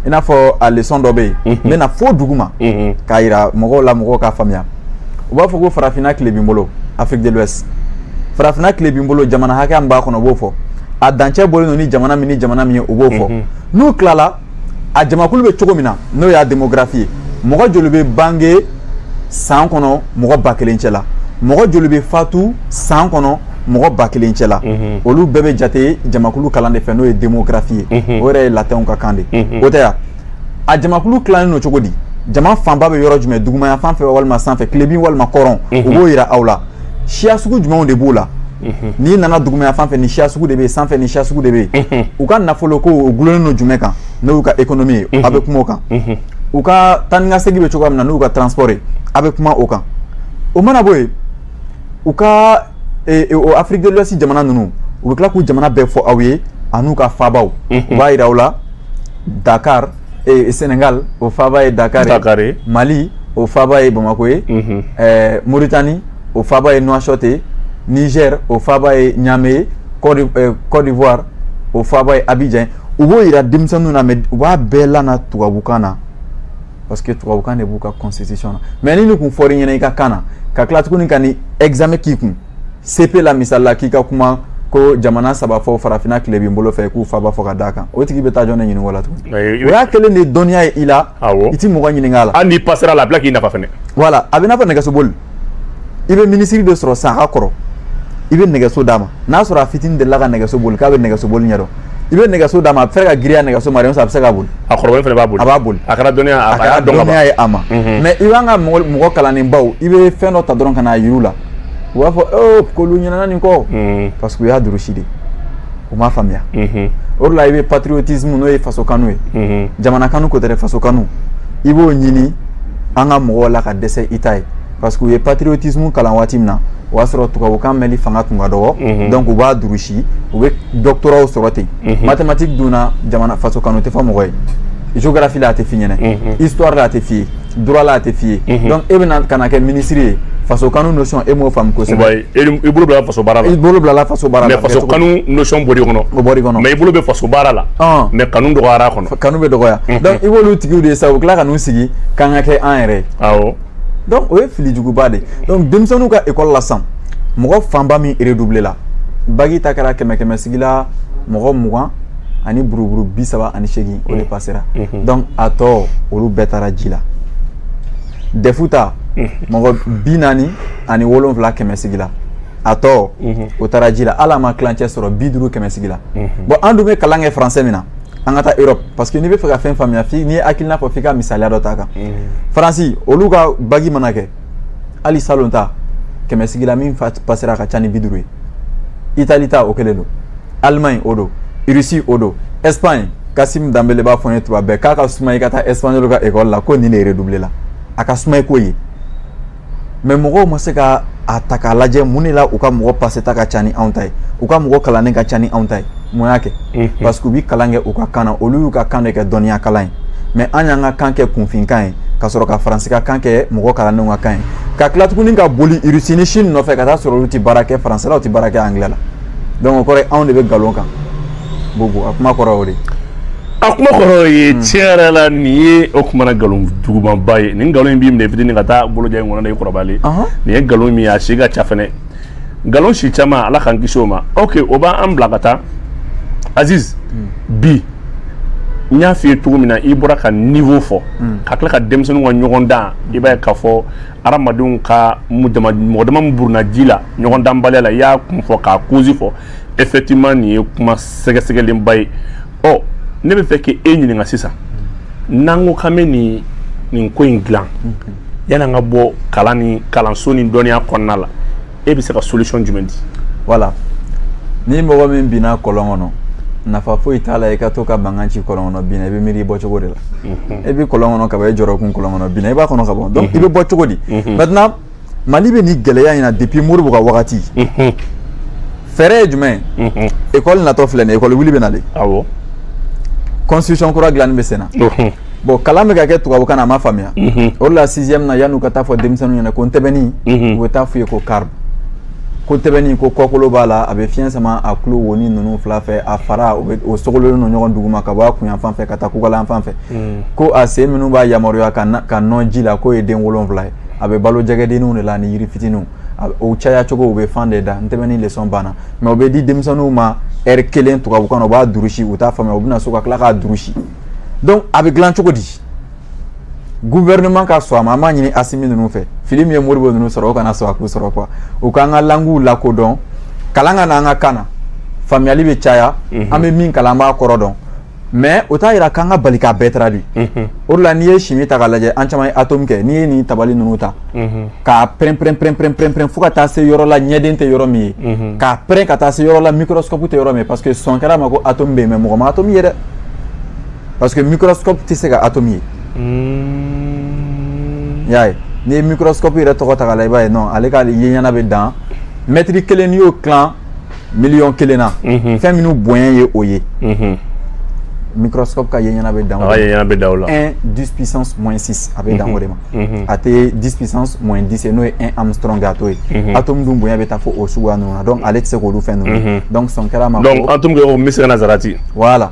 i n'a fɔ a lesɔn dɔ bɛ yen n bɛn'a fɔ duguma k'a yira mɔgɔw la mɔgɔw k'a faamuya u b'a fɔ ko farafinna tilebin bolo afrique de l'ouest farafinna tilebin bolo jamana hakɛya min b'a kɔnɔ u b'o fɔ a dancɛ bɔlen don ni jamana min ni jamana min ye u b'o fɔ mhm. n'u tilala a jamakulu bɛ cogo min na n'o y'a demografi ye mɔgɔ joli bɛ bange san kɔnɔ mɔgɔ ba kelen cɛ la mɔgɔ joli bɛ fatu san kɔnɔ mɔgɔ ba kelen cɛ la mhm. olu bɛɛ bɛ jate jamakulu kalan de fɛ n'o ye demografi ye mhm. o yɛrɛ ye latɛnw ka kan de o tɛ yan a jamakulu tilalen don cogo di jama fanba bɛ yɔrɔ jumɛn dugumaya fan fɛ walima sanfɛ tilebin walima kɔrɔn mhm. u b'o yira aw la siya sugu jumɛnw de b'o la mhm. n'i nana dugumaya fan fɛ nin siya sugu de bɛ yen sanfɛ nin siya sugu de bɛ yen mhm. u ka nafolo ko o dulonnen don jumɛn kan n'o y'u ka ekonomi ye a bɛ kuma o kan u ka taa ni ka segin bɛ cogoya min na n'u ka transport ye a bɛ kuma o kan o mana bɔ yen u ka e, e, o afiriki de l'ouest jamana ninnu u bɛ tila k'u jamana bɛɛ fɔ aw ye an'u ka faabaw u b'a yira aw la Dakar ɛɛ Sénégal o faaba ye Dakar ye, Dakar ye. Mali o faaba ye Bamako ye, unhun, ɛɛ Mauritanie o faaba ye Nouakchott ye, Niger o faaba ye Niamey ye, Côte d'I- ɛɛ, Côte d'Ivoire o faaba ye Abidjan ye. u b'o jira denmisɛnninw na mais u b'a bɛɛ lana tubabukan na parce que tubabukan de b'u ka constitution na mais ni nin kun fɔr'i ɲɛna i ka kan na ka tila tuguni ka ni examen k'i kun CEP la misali la k'i ka kuma ko jamana saba fɔ farafina tilebin bolo fɛ k'u faaba fɔ ka d'a kan o tigi bɛ taa jɔn ne ɲininka la tuguni o y'a kɛlen de ye dɔnniya ye i la i tɛ mɔgɔ ɲininka a la hali n'i pasera a la a bila k'i nafa fɛnɛ voilà a bɛ n'a fɔ nɛgɛsoboli i bɛ minisiri de sɔrɔ san ka kɔrɔ i bɛ nɛgɛso d'a ma n'a sɔrɔ a fitini delila ka nɛgɛso boli k'a bɛ nɛgɛso boli ɲɛdɔn i bɛ nɛgɛso d'a ma a bɛ se ka giriya nɛgɛso ma a bɛ se ka boli a kɔrɔbalen fana b'a boli a b'a boli a kɛra dɔnniya a kɛra dɔnniya ye a ma mais i b'an ka mɔgɔ kalannenbaw i bɛ fɛn dɔ ta dɔrɔn ka n'a yir'u la u b'a fɔ ee k'olu ɲinana nin kɔ mm. parce que u y'a durusi de u m'a faamuya mm-hmm. o de la i bɛ patriotisme n'o ye faso kanu ye mm-hmm. jamana kanu ko tɛ dɛ faso kanu i b'o ɲini an ka mɔgɔw la ka dɛsɛ i t'a ye parce que u ye patriotisme kalan waati min na o y'a sɔrɔ tubabukan mɛnli fanga tun ka dɔgɔ mm-hmm. donc u b'a durusi u bɛ doctoratw sɔrɔ ten mathématique dun na jamana faso kanu tɛ fɔ mɔgɔ ye géographie la a tɛ f'i ɲɛna histoire la a tɛ f'i ye droit la a tɛ f'i ye donc e bɛna ka na kɛ minisiri ye faso kanu notion e m'o faamu kosɛbɛ i bolo bila faso baara la i bolo bila faso baara la mais faso kanu notion bɔr'i kɔnɔ o bɔr'i kɔnɔ mais i bolo bɛ faso baara la mais kanu dɔgɔyara a kɔnɔ kanu bɛ dɔgɔya donc i b'olu tigiw de ye sa u tila ka n'u sigi k'an ka kɛ an yɛrɛ ye awɔ donc o ye fili juguba de ye donc denmisɛnninw ka école la sisan mɔgɔ fanba min redoubler la baki ta kɛra kɛmɛ kɛmɛ sigi la mɔgɔ mugan ani buruburu bi saba ani seegin o de pasera donc a tɔ olu bɛɛ taara ji la dɛfu ta mɔgɔ bi naani ani wolonfila kɛmɛ sigi la a tɔ o taara ji la hali a ma tilancɛ sɔrɔ bi duuru kɛmɛ sigi la bon an dun bɛ kalan kɛ faransɛ min na an ka taa europe parce que n'i bɛ fɛ ka fɛn faamuya f'i n'i ye hakilina fɔ f'i ka misaliya dɔ ta kan faransi olu ka baki mana kɛ hali salon ta kɛmɛ sigila min pasera a ka ca ni bi duuru ye itali ta o kelen don allemagne o don russie o don espagne kasim danbele b'a fɔ n ye tuma bɛɛ k'a ka suma i ka taa espagnol ka ekɔli la ko nin de redouble la a ka suma i k'o ye mais mɔgɔw ma se k'a ta k'a lajɛ mun de la u ka mɔgɔ paseta ka ca ni anw ta ye u ka mɔgɔ kalannen ka ca ni anw ta ye mun y'a kɛ parce que u bi kalan kɛ u ka kan na olu y'u ka kan de kɛ dɔnniya kalan ye mais an y'an ka kan kɛ kunfinkan ye ka sɔrɔ ka faransi ka kan kɛ mɔgɔ kalannenw ka kan ye ka tila tuguni ka boli irisi ni sini nɔfɛ ka t'a sɔrɔ olu tɛ baara kɛ faransɛ la u tɛ baara kɛ angilɛ la donc o kɔrɔ ye anw de bɛ nkalon kan bobo a kuma kɔrɔ o de a kuma kɔrɔ ye hmm. tiɲɛ yɛrɛ la nin ye o kumana nkalon jugumanba ye nin nkalon in b'i minɛ fitini ka taa boloja in kɔnɔ na i kɔrɔbalen nin ye nkalon min ye a si ka ca fɛnɛ nkalon si caman ala k'an kisi o ma ok o b'an bila ka taa aziz hmm. bi n y'a f'i ye cogo min na i bɔra ka niveau fɔ mm. ka tila ka denmisɛnninw ka ɲɔgɔn dan i b'a ye k'a fɔ hadamadenw ka mɔgɔ dama min burunna ji la ɲɔgɔn danbaliya la i y'a kun fɔ k'a kozi fɔ effectivement nin ye kuma sɛgɛsɛgɛlenba ye ɔ ne b'a fɛ k'e ɲininka sisan n'an ko k'an bɛ nin nin ko in dilan mm-hmm. yan'an ka bɔ kalan ni kalanso ni dɔnniya kɔnɔna la e bɛ se ka solution jumɛn di voilà ni mɔgɔ min binna kɔlɔn kɔnɔ nafa foyi t'a la i ka to ka mankan ci kɔlɔn kɔnɔ bin na i bɛ miiri i bɔcogo de la e bɛ kɔlɔn kɔnɔ ka ban e jɔrɔkun kɔlɔn kɔnɔ bin na i b'a kɔnɔ ka ban donc i bɛ bɔ cogo di maintenant mali bɛ nin gɛlɛya in na depuis modibo ka wagati fɛɛrɛ ye jumɛn ye ekɔli natɔ filɛ nin ye ekɔli wuli bɛ na de constitution kura dilanni bɛ sen na bon kalan bɛ ka kɛ tubabukan na a ma faamuya mhm. o de la sixième na yan'u ka taa fɔ denmisɛnninw ɲɛna ko ntɛbɛnni mhm. u bɛ taa f'u ye ko carpe ko ntɛbɛnni ko kɔkolo b'a la a bɛ fiɲɛ sama a tulo wonin ninnu fila fɛ a faraw bɛɛ sogololen don ɲɔgɔn duguma ka bɔ a kun yanfan fɛ ka taa kukala yanfan fɛ mhm. ko a sen minnu b'a yamaruya ka ka nɔn ji la k'o ye den wolonwula ye a bɛ balo jɛgɛdenninw de la ani yiri fitininw o caya cogo u bɛ fan de da ntɛbɛnni leçon banna mɛ o bɛ di denmisɛnninw ma ɛri kelen tubabukan na u b'a durusi u t'a faamuya u bɛ na so ka tila k'a durusi donc a bɛ dilan cogo di gouvernement ka sɔn a ma an b'a ɲini asimi ninnu fɛ fili min ye modibo ninnu sɔrɔ o kana sɔn a k'u sɔrɔ quoi u k'an ka languw lakodɔn kalan ka na an ka kan na faamuyali bɛ caya mhm. an bɛ min kalan an b'a kɔrɔ dɔn mais o t'a yira k'an ka bali k'a bɛɛ taradui mhm. o de la n'i ye chimie ta k'a lajɛ an caman ye atome kɛ n'i ye nin tabali ninnu ta k'a pɛnpɛpɛpɛpɛpɛn fo ka taa se yɔrɔ la ɲɛden tɛ yɔrɔ min ye k'a pɛrɛn ka taa se yɔrɔ la microscope tɛ yɔrɔ min ye parce que sɔn kɛra a ma ko atome bɛ yen mais mɔgɔ ma atome ye dɛ parce que microscope tɛ se ka atome ye i y'a ye n'i ye microscope yɛrɛ tɔgɔ ta k'a lajɛ i b'a ye ale ka ye ɲɛna bɛ dan mɛtiri kelen n'i y'o tila miliyɔn kelen na mhm. fɛn minnu bonya ye o ye mhm. microscope ka ye ɲɛna bɛ dan o ye ɲɛna bɛ dan o la 1 10 puissance moins 6 a bɛ dan o de ma a tɛ 10 puissance moins 10 ye n'o ye 1 angström a t'o ye atome dun bonya bɛ taa fo o suguya ninnu na donc ale tɛ se k'olu fɛn ninnu donc sɔn kɛra a ma donc atome kɛ o misikala zarati voilà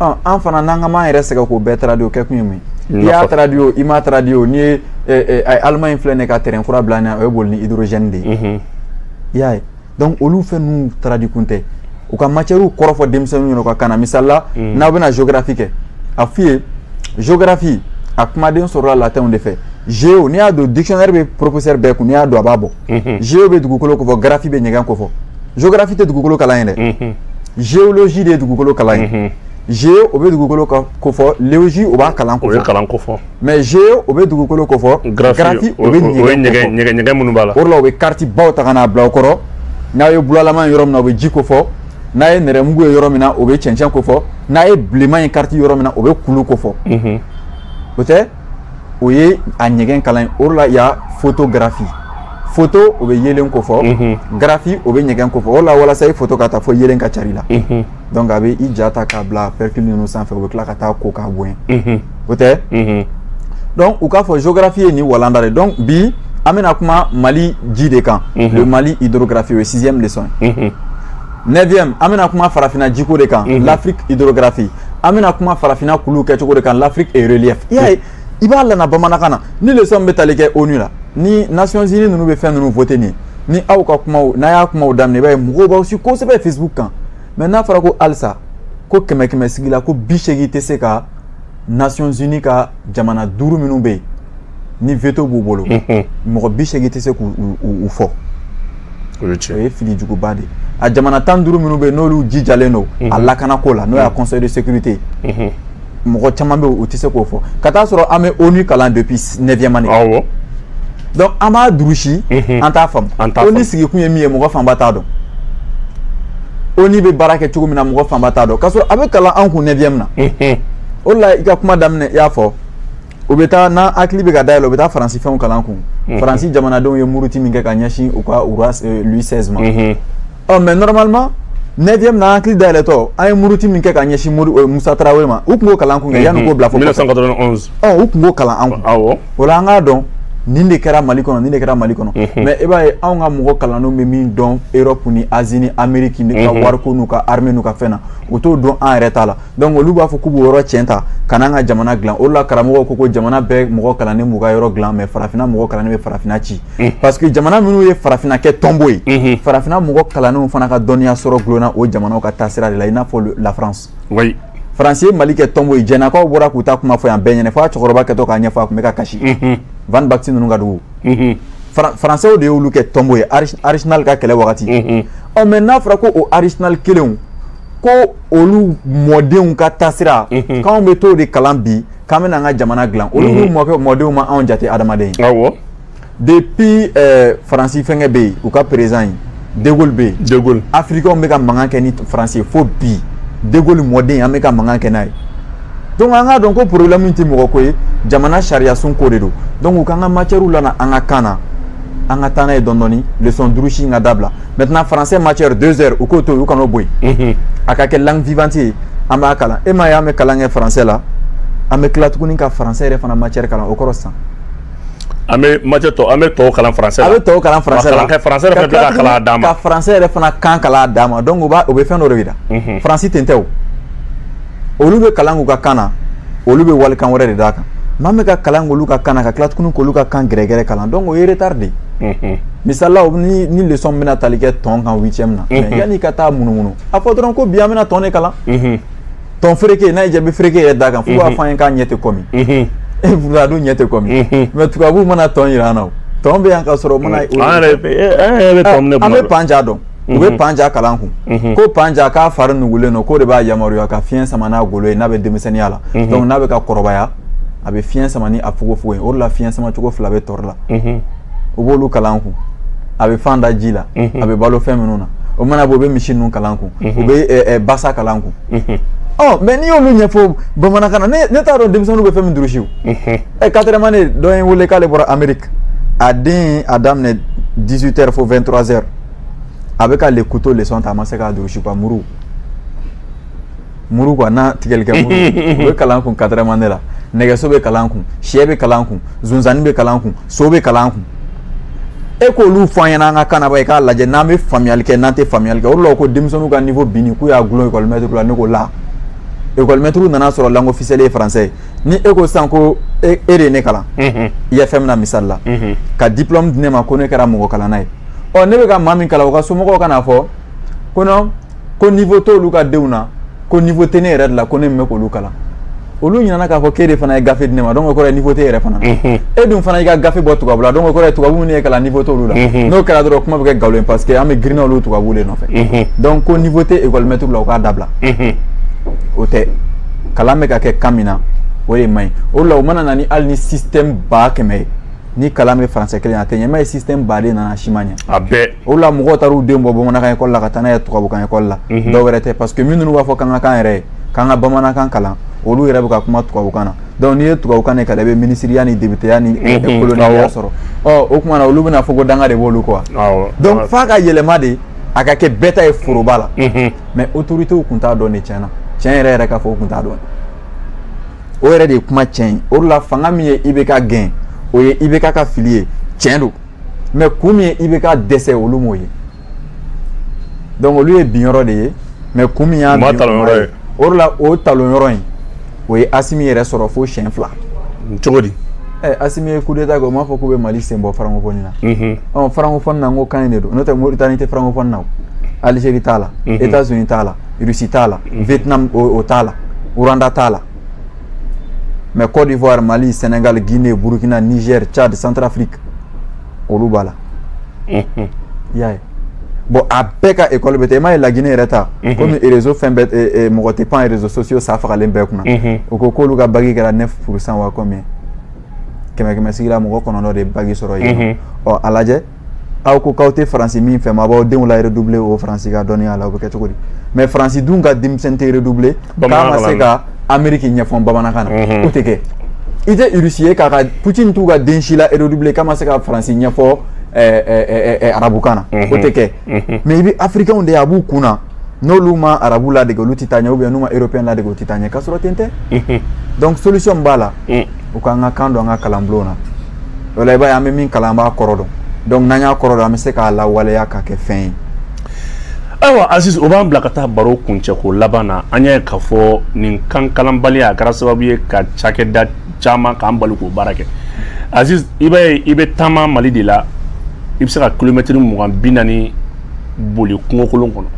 an fana an kan'an yɛrɛ sɛgɛn k'o bɛɛ taradi o kɛ kun ye mun ye i y'a taradi o i m'a taradi o n'i ye Allemagne filɛ nin ye ka train kura bila an ɲɛ o bɛ boli ni hydrogène de ye i y'a ye donc olu fɛn ninnu taradi kun tɛ u ka matière kɔrɔfɔ denmisɛnninw ɲɛna u ka kan na misali la n'aw bɛna géographie kɛ a f'u ye géographie a kumaden sɔrɔla latinw de fɛ géo n'i y'a don dictionnaire bɛ professeur bɛɛ kun n'i y'a don a b'a bɔ géo bɛ dugukolo ko fɔ graphie bɛ ɲɛgɛn ko fɔ géographie tɛ dugukolo kalan ye dɛ géologie de ye dugukolo kalan ye géo o bɛ dugukolo ko fɔ logie o b'a kalan ko fɔ o ye kalan ko fɔ mais géo o bɛ dugukolo ko fɔ graphie o bɛ ɲɛgɛn ɲɛgɛn ɲɛgɛn minnu b'a la o de la u bɛ carte baw ta ka n'a bila o kɔrɔ n'a ye bulalama ye yɔrɔ min na o bɛ ji ko fɔ n'a ye nɛrɛmugu ye yɔrɔ min na o bɛ cɛncɛn ko fɔ n'a ye bilenman ye carte yɔrɔ min na o bɛ kulu ko fɔ o tɛ o ye a ɲɛgɛn kalan ye o la ya photographie photo o bɛ yeelen ko fɔ mhm. graphie o bɛ ɲɛgɛn ko fɔ o la walasa i foto ka ta fo yeelen ka cari i la mhm. donc a bɛ i ja ta k'a bila pellicule ninnu sanfɛ o bɛ tila ka t'a ko k'a bonya mhm. o tɛ donc u k'a fɔ géographie ye nin walanda de donc bi an bɛna kuma mali ji de kan le mali hydrographie o ye sixième leçon ye neuvième an bɛna kuma farafina jiko de kan l'afrique hydrographie an bɛna kuma farafinna kulu kɛ cogo de kan l'Afrique et relief i y'a ye i b'a lana bamanankan na ni leçon bɛ tali kɛ ONU la ni Nations Unies ninnu bɛ fɛn ninnu voter nin ni aw ka kumaw n'a y'a kumaw daminɛ i b'a ye mɔgɔw b'aw si kosɛbɛ Facebook kan mais n'a fɔra ko halisa ko kɛmɛ kɛmɛ sigi la ko bi seegin tɛ se ka Nations Unies ka jamana duuru minnu bɛ yen ni veto b'u bolo mɔgɔ bi seegin tɛ se k'u fɔ o ye fili juguba de ye a jamana tan ni duuru minnu bɛ yen n'olu jijalen don a lakana ko la n'o ye conseil de sécurité mɔgɔ caman bɛ u tɛ se k'o fɔ ka t'a sɔrɔ an bɛ ONU kalan depuis neuvième année awɔ donc an b'a durusi an t'a faamu ONU sigikun ye min ye mɔgɔ fanba t'a dɔn ONU bɛ baara kɛ cogo min na mɔgɔ fanba t'a dɔn k'a sɔrɔ a bɛ kalan an kun neuvième na o de la i ka kuma daminɛ i y'a fɔ u bɛ taa n'an hakili bɛ ka dayɛlɛ u bɛ taa faransi fɛnw kalan an kun mhm. faransi jamanadenw ye muruti min kɛ ka ɲɛsin u ka u ka euh, Louis 16 ma mhm. ɔ mais normalement neuvième na hakili dayɛlɛtɔ an ye muruti min kɛ ka ɲɛsin mori euh, musa tarawele ma u tun b'o kalan an kun kɛ yanni u k'o bila fo 1991 ɔ u tun b'o kalan an kun awɔ o la an k'a dɔn nin de kɛra mali kɔnɔ nin de kɛra mali kɔnɔ mhm. mais i b'a ye anw ka mɔgɔ kalannenw bɛ min dɔn europe ni asie ni amerique n'u ka wariko n'u ka armée n'u ka fɛn na u t'o dɔn an yɛrɛ ta la donc olu b'a fɔ k'u b'o yɔrɔ cɛn ta ka n'an ka jamana dilan o la karamɔgɔw ko ko jamana bɛɛ mɔgɔ kalannen b'u ka yɔrɔ dilan mais farafinna mɔgɔ kalannen bɛ farafinna ci mm. parce que jamana minnu ye farafinna kɛ tomo ye mm-hmm. farafinna mɔgɔ kalannenw fana ka dɔnniya sɔrɔ dulonna o jamanaw ka taasira de la i n'a fɔ la france oui. faransi ye mali kɛ tomo ye jɛnakaw bɔra k'u ta kuma fɔ yan bɛɛ ɲɛ na fo a cɛkɔrɔba kɛtɔ k'a ɲɛfɔ a tun bɛ ka kasi mm-hmm. van baxy ninnu ka dugu mm-hmm. faransɛw de y'olu kɛ tomo ye archinard ka kɛlɛ wagati ɔ mais n'a fɔra ko o archinard kelenw ko olu mɔdenw ka taasira mhm. k'anw bɛ t'o de kalan bi k'an bɛna an ka jamana dilan olu mhm. mɔkɛ mɔdenw ma anw jate adamaden ye awɔ depuis eh, faransi fɛnkɛ bɛ yen u ka perezidan ye de Gaulle bɛ yen de Gaulle afirikɛnw bɛ ka mankan kɛ ni faransi ye fo bi de Gaulle mɔden an bɛ ka mankan kɛ n'a ye donc an k'a dɔn ko problème tɛ mɔgɔ ko ye jamana sariyasun ko de don donc u k'an ka matière lana an ka kan na an ka taa n'a ye dɔɔni dɔɔni leçon durusi in ka dabila maintenant français matière 2 heures u k'o to yen u kan'o bɔ yen a ka kɛ langue vivante ye an b'a kalan e m'a ye an bɛ kalan kɛ français la an bɛ tila tuguni ka français yɛrɛ fana matière kalan o kɔrɔ sisan an bɛ matière tɔ an bɛ tɔw kalan français la a bɛ tɔw kalan français la ka français yɛrɛ fana bila ka kalan a dan ma ka français yɛrɛ fana kan kalan a dan ma donc o b'a o bɛ fɛn dɔ de yira faransi ten tɛ o olu bɛ kalan k'u ka kan na olu bɛ walikan wɛrɛ de d'a kan maa min ka kalan k'olu ka kan na ka tila tuguni k'olu ka kan yɛrɛ yɛrɛ kalan donc o ye retard de ye misala ni ni leçon bɛna tali kɛ tɔn kan huitième na mais yanni ka taa munumunu a fɔ dɔrɔn ko bi an bɛna tɔn de kalan tɔn fereke n'a ye jaabi fereke yɛrɛ d'a kan fo u b'a fɔ an ye k'a ɲɛ tɛ kɔmi e pourtant a dun ɲɛ tɛ kɔmi mais tubabuw mana tɔn jira an na o tɔn bɛ yan ka sɔrɔ o mana an yɛrɛ bɛ tɔn minɛ tuma dɔ an bɛ panja dɔn u bɛ panja kalan kun ko panja k'a fari nugulen don k'o de b'a yamaruya ka fiɲɛ sama n'a golo ye n'a bɛ denmisɛnninya la donc n'a bɛ ka kɔrɔbaya a bɛ fiɲɛ sama ni a fogofogo ye o de la fiɲɛ sama cogo fila bɛ tɔri la u b'olu kalan kun a bɛ fan da ji la a bɛ balo fɛn minnu na o mana bɔ u bɛ misi ninnu kalan kun u bɛ basa kalan kun ɔ mais n'i y'olu ɲɛfɔ bamanankan na ne t'a dɔn denmisɛnninw bɛ fɛn min durusi ɛ quatrième année dɔ ye wele k'ale bɔra ameriki a den a daminɛ 18 heures fo 23 heures a bɛ ka le couteau leçon ta a ma se k'a durusi quoi muru muru quoi n'a tigɛli kɛ muru o bɛ kalan kun quatrième année la nɛgɛso bɛ kalan kun sɛ bɛ kalan kun zonzanni bɛ kalan kun so bɛ kalan kun e k'olu fɔ an ɲɛna an ka kan na bani k'a lajɛ n'an bɛ faamuyali kɛ n'an tɛ faamuyali kɛ o de la ko denmisɛnninw ka niveau binni k'u y'a gulon école maître la ne ko la école maître nan'a sɔrɔ langue officielle ye français ye ni e ko sisan ko e e de ye ne kalan IFM na misali la ka diplôme di ne ma ko ne kɛra mɔgɔ kalanna ye ɔ ne bɛ ka maa min kalan o ka somɔgɔw ka n'a fɔ ko non ko niveau t'olu ka denw na ko niveau tɛ ne yɛrɛ de la ko ne min bɛ k'olu kalan olu ɲinana k'a fɔ k'e de fana ye gafe di ne ma donc o kɔrɔ ye niveau t'e yɛrɛ fana mhm. e dun fana y'i ka gafe bɔ tubabu la donc o kɔrɔ ye tubabu minnu ye kalan niveau t'olu la mhm. n'o kɛra dɔrɔn kuma bɛ kɛ galo ye parce que an bɛɛ girinna olu tubabu de nɔfɛ mhm. donc ko niveau tɛ école maître la u k'a dabila o tɛ kalan bɛ ka kɛ kan min na o de man ɲi o de la o mana na ni hali ni système ba kɛmɛ ye ni kalan bɛ français kelen a tɛ ɲɛ mais ye système baden nana si ma ɲɛ a bɛɛ o la mɔgɔw taar'u den bɔ bamanankan école la ka taa n'a ye tubabukan école la mhm. dɔw wɛrɛ tɛ parce que minnu b'a fɔ k'an ka kan yɛrɛ ye k'an ka bamanankan kalan olu yɛrɛ bɛ ka kuma tubabukan na donc n'i ye tubabukan de kalan i bɛ minisiriya ni debuteya ni kolonɛya sɔrɔ ɔ o tuma na olu bɛna fɔ ko danga de b'olu kɔ donc f'a ka yɛlɛma de a ka kɛ bɛɛ ta ye foroba la mais autorités kun t'a dɔn dɛ tiɲɛ na tiɲɛ yɛrɛ yɛrɛ k'a fɔ u kun t'a dɔn o yɛrɛ de ye kuma tiɲɛ ye o de la fanga min ye i bɛ ka gɛn o ye i bɛ ka ka fili ye tiɲɛ don mais kun min ye i bɛ ka dɛsɛ olu m'o ye donc olu ye bin yɔrɔ de ye mais kun min y'a bin yɔrɔ ye o de la o talon yɔrɔ in o ye asimi yɛrɛ sɔrɔ fo siɲɛ fila cogo di Eh, asimi ye coup d'état kɛ o m'a fɔ k'u bɛ mali sen bɔ francophonie na mhm. ɔ francophonie na n ko kan in de don n'o tɛ moritani tɛ francophonie na o algérie t'a la mhm. états unis t'a la Russie t'a la mhm. Vietnam o t'a la Rwanda t'a la mais Côte d'Ivoire Mali Sénégal Guinée Burkina Niger Tchad Centrafrique olu b'a la mhm. i y'a ye bon a bɛɛ ka école bɛ ten i m'a ye La Guinée yɛrɛ ta mhm. komi réseau fɛn bɛɛ mɔgɔ tɛ pan réseaux sociaux sa fagalen bɛɛ kunna o ko k'olu ka baki kɛra 9 pourcent wa combien kɛmɛ kɛmɛ sigi la mɔgɔ kɔnɔntɔn de ye baki sɔrɔ yen nɔ ɔ a lajɛ aw ko k'aw tɛ faransi min fɛ aw b'aw denw la redouble o faransi ka dɔnniya la o bɛ kɛ cogo di mais faransi dun ka denmisɛn tɛ redouble k'a ma se ka ameriki ɲɛfɔ bamanankan na mhm. o tɛ kɛ i tɛ irisi ye k'a ka putin t'u ka den si la redouble k'a ma se ka faransi ɲɛfɔ eh, eh, eh, arabukan na mhm. o tɛ kɛ mhm. mais i bɛ afirikɛnw de ye a b'u kun na n'olu ma arabu ladege olu tɛ taa ɲɛ ou bien n'u ma européen ladege u tɛ taa ɲɛ k'a sɔrɔ ten tɛ donc solution min b'a la mm. u k'an ka kan don an ka kalanbulon na o la i b'a ye an bɛ min kalan an b'a kɔrɔ dɔn donc n'an y'a kɔrɔ dɔn an bɛ se k'a lawaleya ka kɛ fɛn ye ayiwa aziz o b'an bila ka taa baro kuncɛko laban na an y'a ye k'a fɔ nin kan kalanbaliya a kɛra sababu ye ka cakɛda caman k'an bali k'o baara kɛ aziz i b'a ye i bɛ taama mali de la i bɛ se ka kilomɛtiri mugan bi naani boli kungokolon kɔnɔ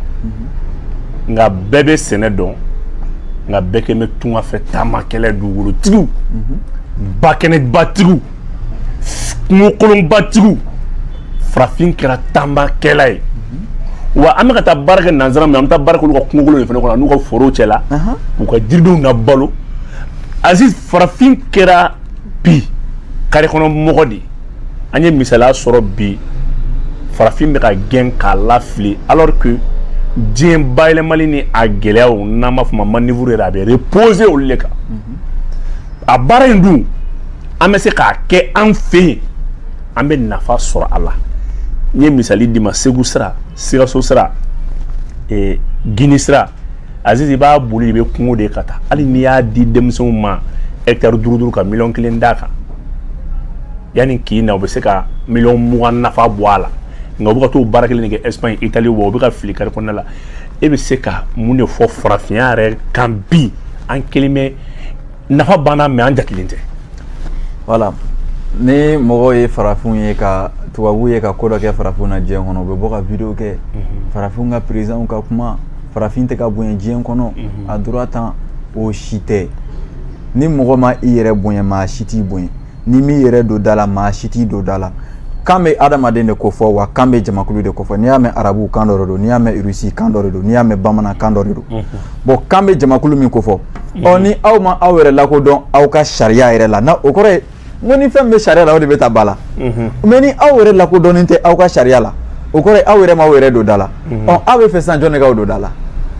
nka bɛɛ bɛ sɛnɛ dɔn nka bɛɛ kɛ bɛ tunga fɛ taamakɛla ye dugukolotigiw bakɛnɛbatigiw kungokolonbatigiw farafin kɛra taamakɛla ye wa an bɛ ka taa baara kɛ nansara min an bɛ taa baara k'olu ka kungokolon de fana kɔnɔ n'u ka foro cɛ la u ka jiridenw na balo ayi farafin kɛra bi kare kɔnɔ mɔgɔ de an ye misaliya sɔrɔ bi farafin bɛ ka gɛn k'a lafili alors que diɲɛ bayɛlɛmali ni a gɛlɛyaw n'an b'a f'a ma manivuru yɛrɛ a bɛ reposer olu de kan a baara in dun an bɛ se k'a kɛ an fɛ yan an bɛ nafa sɔrɔ a la n ye misali d'i ma segu sira sikaso sira ee gini sira aziz i b'a boli i bɛ kungo de ka taa hali n'i y'a di denmisɛnw ma hɛkitari duuru duuru ka miliyɔn kelen d'a kan yanni k'i na u bɛ se ka miliyɔn mugan nafa bɔ a la nka u bɛ ka t'o baara kelen de kɛ espagne italie wa u bɛ ka fili kari kɔnɔna la e bɛ se ka mun de fɔ farafinya yɛrɛ kan bi an kelen bɛ nafa banna mɛ an jatelen tɛ wala ni mɔgɔw ye farafinw ye ka tubabu ye ka ko dɔ kɛ farafinw na diɲɛ kɔnɔ u bɛ bɔ ka video kɛ mhm. farafinw ka perezanw ka kuma farafin tɛ ka bonya diɲɛ kɔnɔ mhm. a dura tan o si tɛ ni mɔgɔ ma i yɛrɛ bonya maa si t'i bonya n'i m'i yɛrɛ don da la maa si t'i don da la kan bɛ adamaden de ko fɔ wa kan bɛ jamakulu de ko fɔ n'i y'a mɛn arabu kan dɔ de don n'i y'a mɛn irisi kan dɔ de don n'i y'a mɛn bamanan kan dɔ de don bɔn kan bɛ jamakulu min ko fɔ ɔ ni aw ma aw yɛrɛ lakodɔn aw ka sariya yɛrɛ la na o kɔrɔ ye n ko ni fɛn bɛ sariya la o de bɛ taa ba la mɛ ni aw yɛrɛ lakodɔnnen tɛ aw ka sariya la o kɔrɔ ye aw yɛrɛ ma aw yɛrɛ don da la ɔ aw bɛ fɛ sisan jɔn de k'aw don da la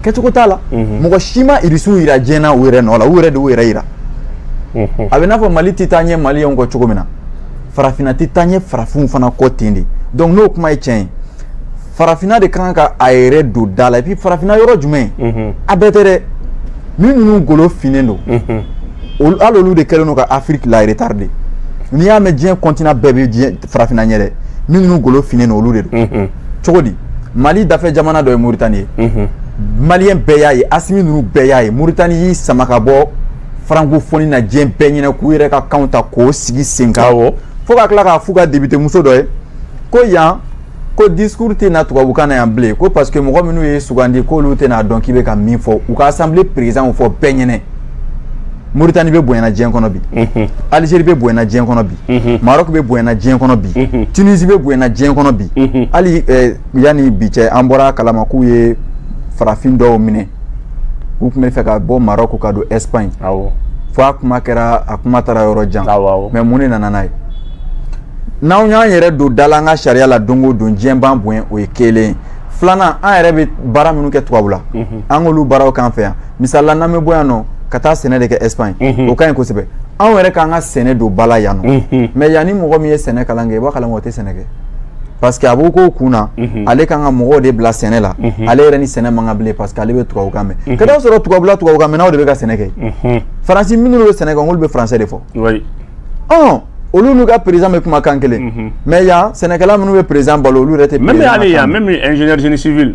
kɛcogo t'a la mɔgɔ si ma irisiw yira diɲɛ na u yɛrɛ nɔ la u yɛrɛ de y'u yɛrɛ yira a bɛ i n'a fɔ mali tɛ taa ɲɛ maliyɛnw kɔ cogo min na farafinna tɛ taa ɲɛ farafinw fana kɔ ten de donc n'o kuma ye tiɲɛ ye farafinna de kan ka a yɛrɛ don da la et puis farafinna yɔrɔ jumɛn a bɛɛ tɛ dɛ min ninnu golo finnen don olu hali olu de kɛlen don ka afiriki la retarder n'i y'a mɛn diɲɛ kɔntina bɛɛ bɛ diɲɛ farafinna ɲɛ dɛ min ninnu golo finnen don olu de don cogo di mali dafɛ jamana dɔ ye moritani ye mhm. maliyɛn bɛɛ y'a ye asimi ninnu bɛɛ y'a ye moritani y'i sama ka bɔ francophonie na diɲɛ bɛɛ ɲɛna k'u yɛrɛ ka kanw ta k'o sigi sen kan fo ka tila k'a f'u ka depitemuso dɔ ye ko yan ko discours tɛ na tubabukan na yan bilen ko parce que mɔgɔ minnu y'i sugandi k'olu tɛn'a dɔn k'i bɛ ka min fɔ u ka assemblée président fɔ bɛɛ ɲɛna Mauritanie bɛ bonyana diɲɛ kɔnɔ bi Algérie bɛ bonyana diɲɛ kɔnɔ bi Maroc bɛ bonyana diɲɛ kɔnɔ bi Tunisie bɛ bonyana diɲɛ kɔnɔ bi hali yanni bi cɛ an bɔr'a kalama k'u ye farafin dɔw minɛ u tun bɛ fɛ ka bɔ Maroc ka don Espagne fo a kuma kɛra a kuma taara yɔrɔ jan mais mun de nana n'a ye n'anw y'an yɛrɛ don da la an ka sariya la don o don diɲɛ b'an bonya o ye kelen ye filanan an yɛrɛ bɛ baara minnu kɛ tubabula an k'olu baaraw k'an fɛ yan misala n'an bɛ bɔ yan nɔ ka taa sɛnɛ de kɛ espagne o ka ɲi kosɛbɛ anw yɛrɛ k'an ka sɛnɛ don bala yan nɔ mɛ yan ni mɔgɔ min ye sɛnɛ kalan kɛ i b'a kalan o tɛ sɛnɛ kɛ parce que a b'o k'o kun na ale kan ka mɔgɔw de bila sɛnɛ la ale yɛrɛ ni sɛnɛ man kan bilen parce que ale bɛ tubabukan mɛn ka t'a sɔrɔ tubabula tubabukan mɛnnaw de bɛ ka sɛnɛ kɛ faransi minnu bɛ sɛnɛ kɛ olu bɛ faransɛ de fɔ ɔn olu n'u ka président bɛ kuma kan kelen mɛ yan sɛnɛkɛla minnu bɛ président balo olu yɛrɛ t'a mɛn ale yan même ingénieur génie civil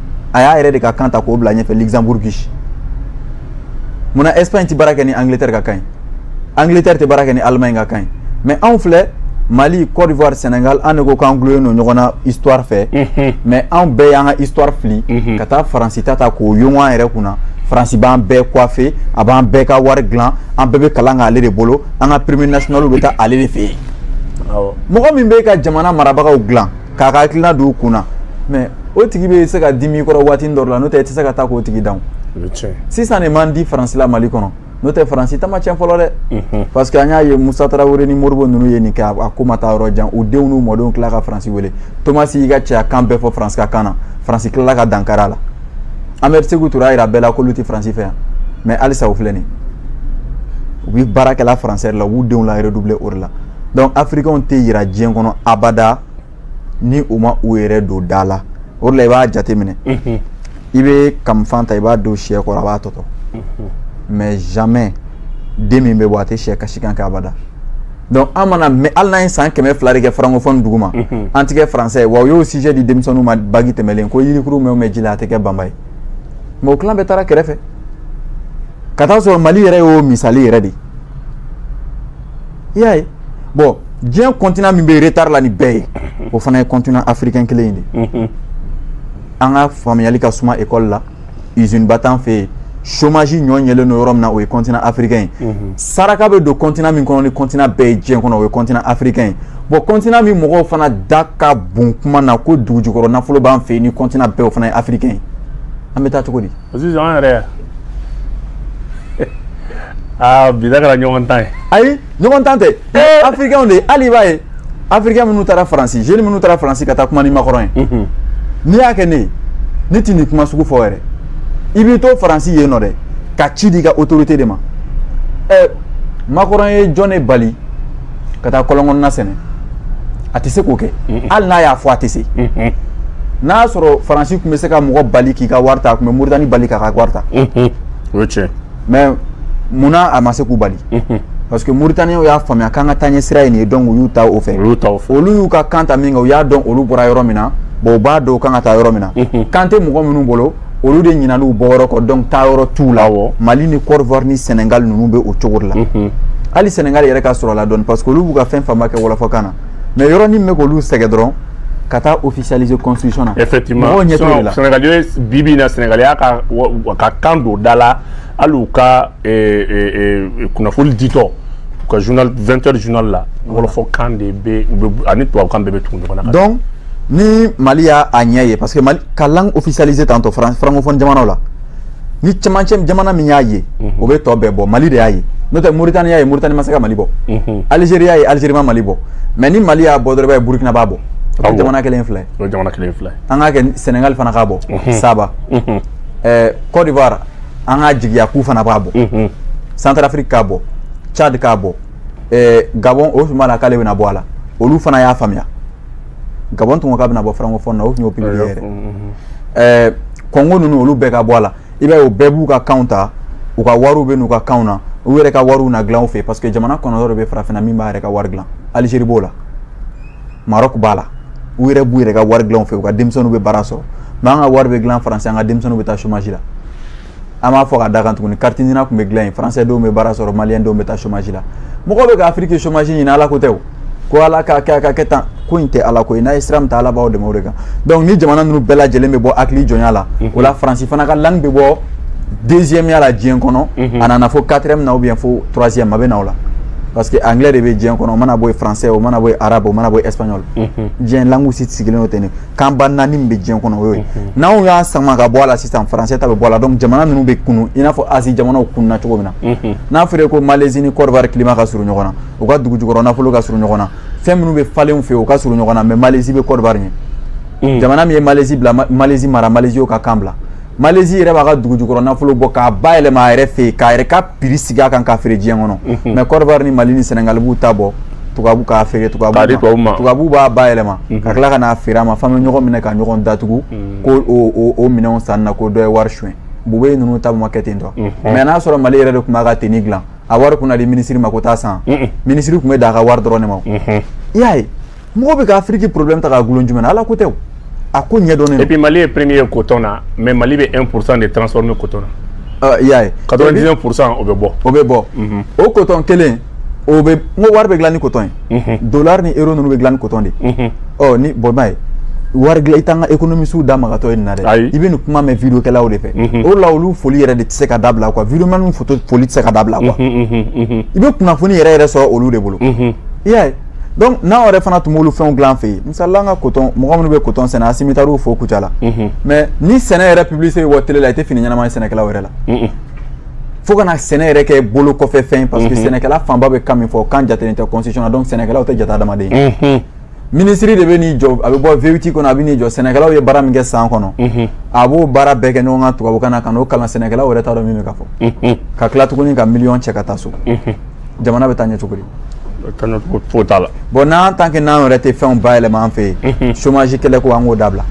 a y'a yɛrɛ de ka kan ta k'o bila ɲɛfɛ luxembourg munna espagne tɛ baara kɛ ni angleterre ka kan ye angleterre tɛ baara kɛ ni allemagne ka kan ye mais anw filɛ mali côte d'ivoire sénégal an de ko k'an dulonnen don ɲɔgɔn na histoire fɛ mhm. mais anw bɛɛ y'an ka histoire fili mhm. ka taa faransi ta ta k'o yongo an yɛrɛ kunna faransi b'an bɛɛ coiffer a b'an bɛɛ ka wari dilan an bɛɛ bɛ kalan k'ale de bolo an ka premier national bɛ taa ale de fɛ yen mɔgɔ min bɛ ka jamana marabagaw dilan k'a ka hakilina don u kun na mɛ o tigi bɛ se ka dimi i kɔrɔ waati dɔ la n'o tɛ i tɛ se ka taa k'o tigi dan sisan de man di faransi la mali kɔnɔ n'o tɛ faransi ta ma cɛn fɔlɔ dɛ mhm. parce que an y'a ye musa tarawele ni modibo ninnu ye nin kɛ a ko ma taa yɔrɔ jan u denw n'u mɔdenw tila ka faransi wele tomasi y'i ka cɛya kan bɛɛ fɔ faransi ka kan na faransi tilala ka dankari a la amɛdi seku ture y'a yira bɛɛ la k'olu tɛ faransi fɛ yan mɛ halisa u filɛ nin u bɛ baara kɛla faransɛ la u b'u denw la redoubler o de la dɔnku afirikɛnw tɛ jira diɲɛ kɔnɔ abada ni u ma u yɛrɛ don da la o la i b'a jateminɛ i bɛ kamifan ta i b'a don syɛ kɔrɔ a b'a tɔtɔ mɛ jamais den min bɛ bɔ a tɛ syɛ kasikan kɛ abada donc an mana mɛ hali n'an ye san kɛmɛ fila de kɛ francofɔni dugu ma an tɛ kɛ français wa u y'o sujet di denmisɛnninw ma baki tɛmɛlen ko yirikurun mɛn o mɛn ji la a tɛ kɛ banba ye mɛ o tilan bɛɛ taara kɛrɛfɛ ka taa sɔrɔ mali yɛrɛ y'o misali yɛrɛ de ye i y'a ye bɔn diɲɛ kɔntina min bɛ retari la ni bɛɛ ye o fana ye kɔntina afirikɛn kelen ye dɛ an ka faamuyali ka suma ekɔli la izini ba t'an fɛ yen chômage ɲɔ ɲɛlen don yɔrɔ min na o ye continent africain ye mhm. saraka bɛ don continent min kɔnɔ ni continent bɛɛ ye diɲɛ kɔnɔ o ye continent africain ye bon continent min mɔgɔw fana da ka bon kuma na ko dugujukɔrɔ nafolo b'an fɛ yen ni continent bɛɛ o fana ye africain ye an bɛ taa cogo di sisan an yɛrɛ aa bi da kɛra ɲɔgɔn tan ye ayi ɲɔgɔn tan tɛ afirikɛnw de hali i b'a ye afirikɛn minnu taara faransi zeni minnu taara faransi ka taa kuma ni makɔrɔn ye mhm. n'i y'a kɛ ne ye ne tɛ nin kuma sugu fɔ yɛrɛ i b'i to faransi yen nɔ dɛ ka ci di i ka otorite de ma ɛ makɔrɔn ye jɔn ne bali ka taa kɔlɔn na sɛnɛ a tɛ se k'o kɛ hali n'a y'a fɔ a tɛ se n'a y'a sɔrɔ faransi tun bɛ se ka mɔgɔ bali k'i ka wari ta a tun bɛ moritani bali k'a ka wari ta o ye tiɲɛ mɛ munna a ma se k'u bali parce que Mauritaniens y'a faamuya k'an ka taaɲɛ sira ye nin ye donc u y'u ta o fɛ olu y'u ka kan ta min kɛ u y'a dɔn olu bɔra yɔrɔ min na bon u b'a dɔn u kan ka taa yɔrɔ min na kan tɛ mɔgɔ minnu bolo olu de ɲinana u bɔ yɔrɔ kɔ donc taa yɔrɔ tunun u la mali ni côte d'ivoire ni sénégal ninnu bɛ o cogo de la hali sénégal yɛrɛ ka sɔrɔ la dɔɔnin parce que olu b'u ka fɛn fanba kɛ wɔlɔfɔkan na mɛ yɔrɔ min bɛ k'olu sɛgɛn dɔrɔn ka taa officialiser constitution na n'o tɛ bi bi in na sénégal y'a ka kan don da la hali u ka kunnafoni ditɔ u ka vingt heures journal la wɔlɔfɔkan de bɛ ani tubabu kan bɛɛ bɛ tugu ɲɔgɔn na ni mali y'a a ɲɛ ye parce que mali ka langue officialisée tantɔ francophone jamanaw la ni cɛmancɛ jamana min y'a ye mhm. o bɛ tɔ bɛɛ bɔ mali de y'a ye n'o tɛ moritani y'a ye moritani ma se ka mali bɔ mhm. algérie y'a ye algérie ma mali bɔ mais ni mali y'a bɔ dɔrɔn i b'a ye burkina b'a bɔ ah o jamana kelen filɛ o jamana kelen filɛ an k'a kɛ sénégal fana k'a bɔ mhm. saba ɛɛ eh, côte d'ivoire an k'a jigiya k'u fana b'a bɔ centrafrique k'a bɔ tchad k'a bɔ ɛɛ eh, gabon o tuma la k'ale bɛna bɔ a la olu fana y'a faamuya gabɔn tun ko k'a bɛna bɔ francophone na o tun y'o pipiri yɛrɛ ɛɛ kɔngo ninnu olu bɛɛ ka bɔ a la i b'a ye o bɛɛ b'u ka kanw ta u ka wariw bɛ n'u ka kanw na u yɛrɛ ka wariw na dilan u fɛ parce que jamana kɔnɔntɔn de bɛ farafinna min b'a yɛrɛ ka wari dilan Algérie b'o la Maroc b'a la u yɛrɛ b'u yɛrɛ ka wari dilan u fɛ u ka denmisɛnninw bɛ baara sɔrɔ mais an ka wari bɛ dilan France an ka denmisɛnninw bɛ taa chômage la an b'a fɔ ka d'a kan tuguni carte NINA tun bɛ dilan yen faransɛ denw bɛ baara sɔrɔ maliyɛn denw bɛ taa chômage la mɔgɔw bɛ ka afiriki chômage ɲini ala ko tɛ o ko ala k'a kɛ a ka kɛ tan ko in tɛ ala ko ye n'aw ye sira min ta ala b'aw dɛmɛ o de kan donc ni jamana ninnu bɛɛ lajɛlen bɛ bɔ hakili jɔnya la mhm. o la faransi fana ka langue bɛ bɔ deuxième ya la diɲɛ kɔnɔ mhm. a nana fo quatrième na ou bien fo troisième a bɛ na o la parce que anglais de bɛ diɲɛ kɔnɔ o mana bɔ yen français o mana bɔ yen arabe o mana bɔ yen espagnol mhm. diɲɛ langue si sigilen o tɛ nin kanba naani bɛ diɲɛ kɔnɔ o ye n'anw y'a sama ka bɔ a la sisan faransɛ ta bɛ bɔ a la jamana ninnu bɛ kunun i n'a fɔ azi jamanaw kununna cogo min na n'a fɔra ko malezi ni Côte d'Ivoire climat ka surun ɲɔgɔn na u ka dugu jukɔrɔ nafolo ka surun ɲɔgɔn na fɛn minnu bɛ falen u fɛ u ka surun ɲɔgɔn na mais malezi bɛ Côte d'Ivoire ɲɛ jamana min ye malezi bila malezi mara malezi ka kan bila malezi yɛrɛ b'a ka dugu jukɔrɔ nafolo bɔ k'a bayɛlɛma a yɛrɛ fɛ yen k'a yɛrɛ prix sigi a kan k'a feere diɲɛ kɔnɔ mais Côte d'Ivoire ni mali ni sɛnɛgali b'u ta bɔ tubabu k'a feere tubabu tubabu b'a bayɛlɛma ka tila ka n'a feere an ma f'an bɛ ɲɔgɔn minɛ ka ɲɔgɔn datugu ko o minɛnw san na ko dɔ ye wari suɲɛ Boubèye ninnu ta ma kɛ ten tɔ mais n'a sɔrɔ mali yɛrɛ de tun b'a ka tenue dilan a wari tun na di minisiri ma ko taa a san minisiri tun bɛ dan a ka wari dɔrɔn de ma i y'a ye mɔgɔ bɛ ka afiriki problème ta k'a dulon jumɛn na ala ko tɛ o a ko ɲɛdɔnnen et puis mali ye premier ye coton na mais mali bɛ 1 pourcent de transformer coton na ah, i y'a ye 99 pourcent o bɛ bɔ o bɛ bɔ mhm. o coton kelen o bɛ n ko wari bɛ dilan ni coton ye mhm. dollar ni euro ninnu bɛ dilan ni coton de ye mhm. ɔ ni bɔn b'a ye wari dilan i t'an ka économistes da magatɔ ye nin na dɛ i bɛ nin kuma mɛn video kɛlaw de fɛ o la olu foli yɛrɛ de tɛ se ka dabila quoi video man foto foli tɛ se ka dabila quoi i bɛ kunnafoni yɛrɛ yɛrɛ sɔrɔ olu de bolo i y'a ye donc n'an yɛrɛ fana tun b'olu fɛnw dilan an fɛ yen misalila an ka coton mɔgɔ minnu bɛ coton sɛnɛ asimitariw fo kucala mhm. mais ni sɛnɛ yɛrɛ publicité bɛ bɔ télé la i tɛ fini ɲɛnama ye sɛnɛkɛlaw yɛrɛ la mhm. fo ka na sɛnɛ yɛrɛ kɛ bolokɔfɛfɛn parce que mhm. sɛnɛkɛla fanba bɛ kan min fɔ kan jatelen tɛ constitution na donc sɛnɛkɛlaw tɛ jate adamaden ye minisiri de bɛ n'i jɔ a bɛ bɔ V8 kɔnɔ a bɛ n'i jɔ sɛnɛkɛlaw ye baara min kɛ san kɔnɔ a b'o baara bɛɛ kɛ ɲɔgɔn kan tubabukan na ka n'o kalan sɛnɛkɛlaw yɛrɛ t'a dɔn min bɛ ka fɔ ka tila tuguni ka miliyɔn cɛ ka taa so jamana bɛ taa ɲɛ cogo di fo t'a la bon n'an t'a kɛ n'an yɛrɛ tɛ fɛnw bayɛlɛma an fɛ yen chômage kɛlɛ ko an k'o dabila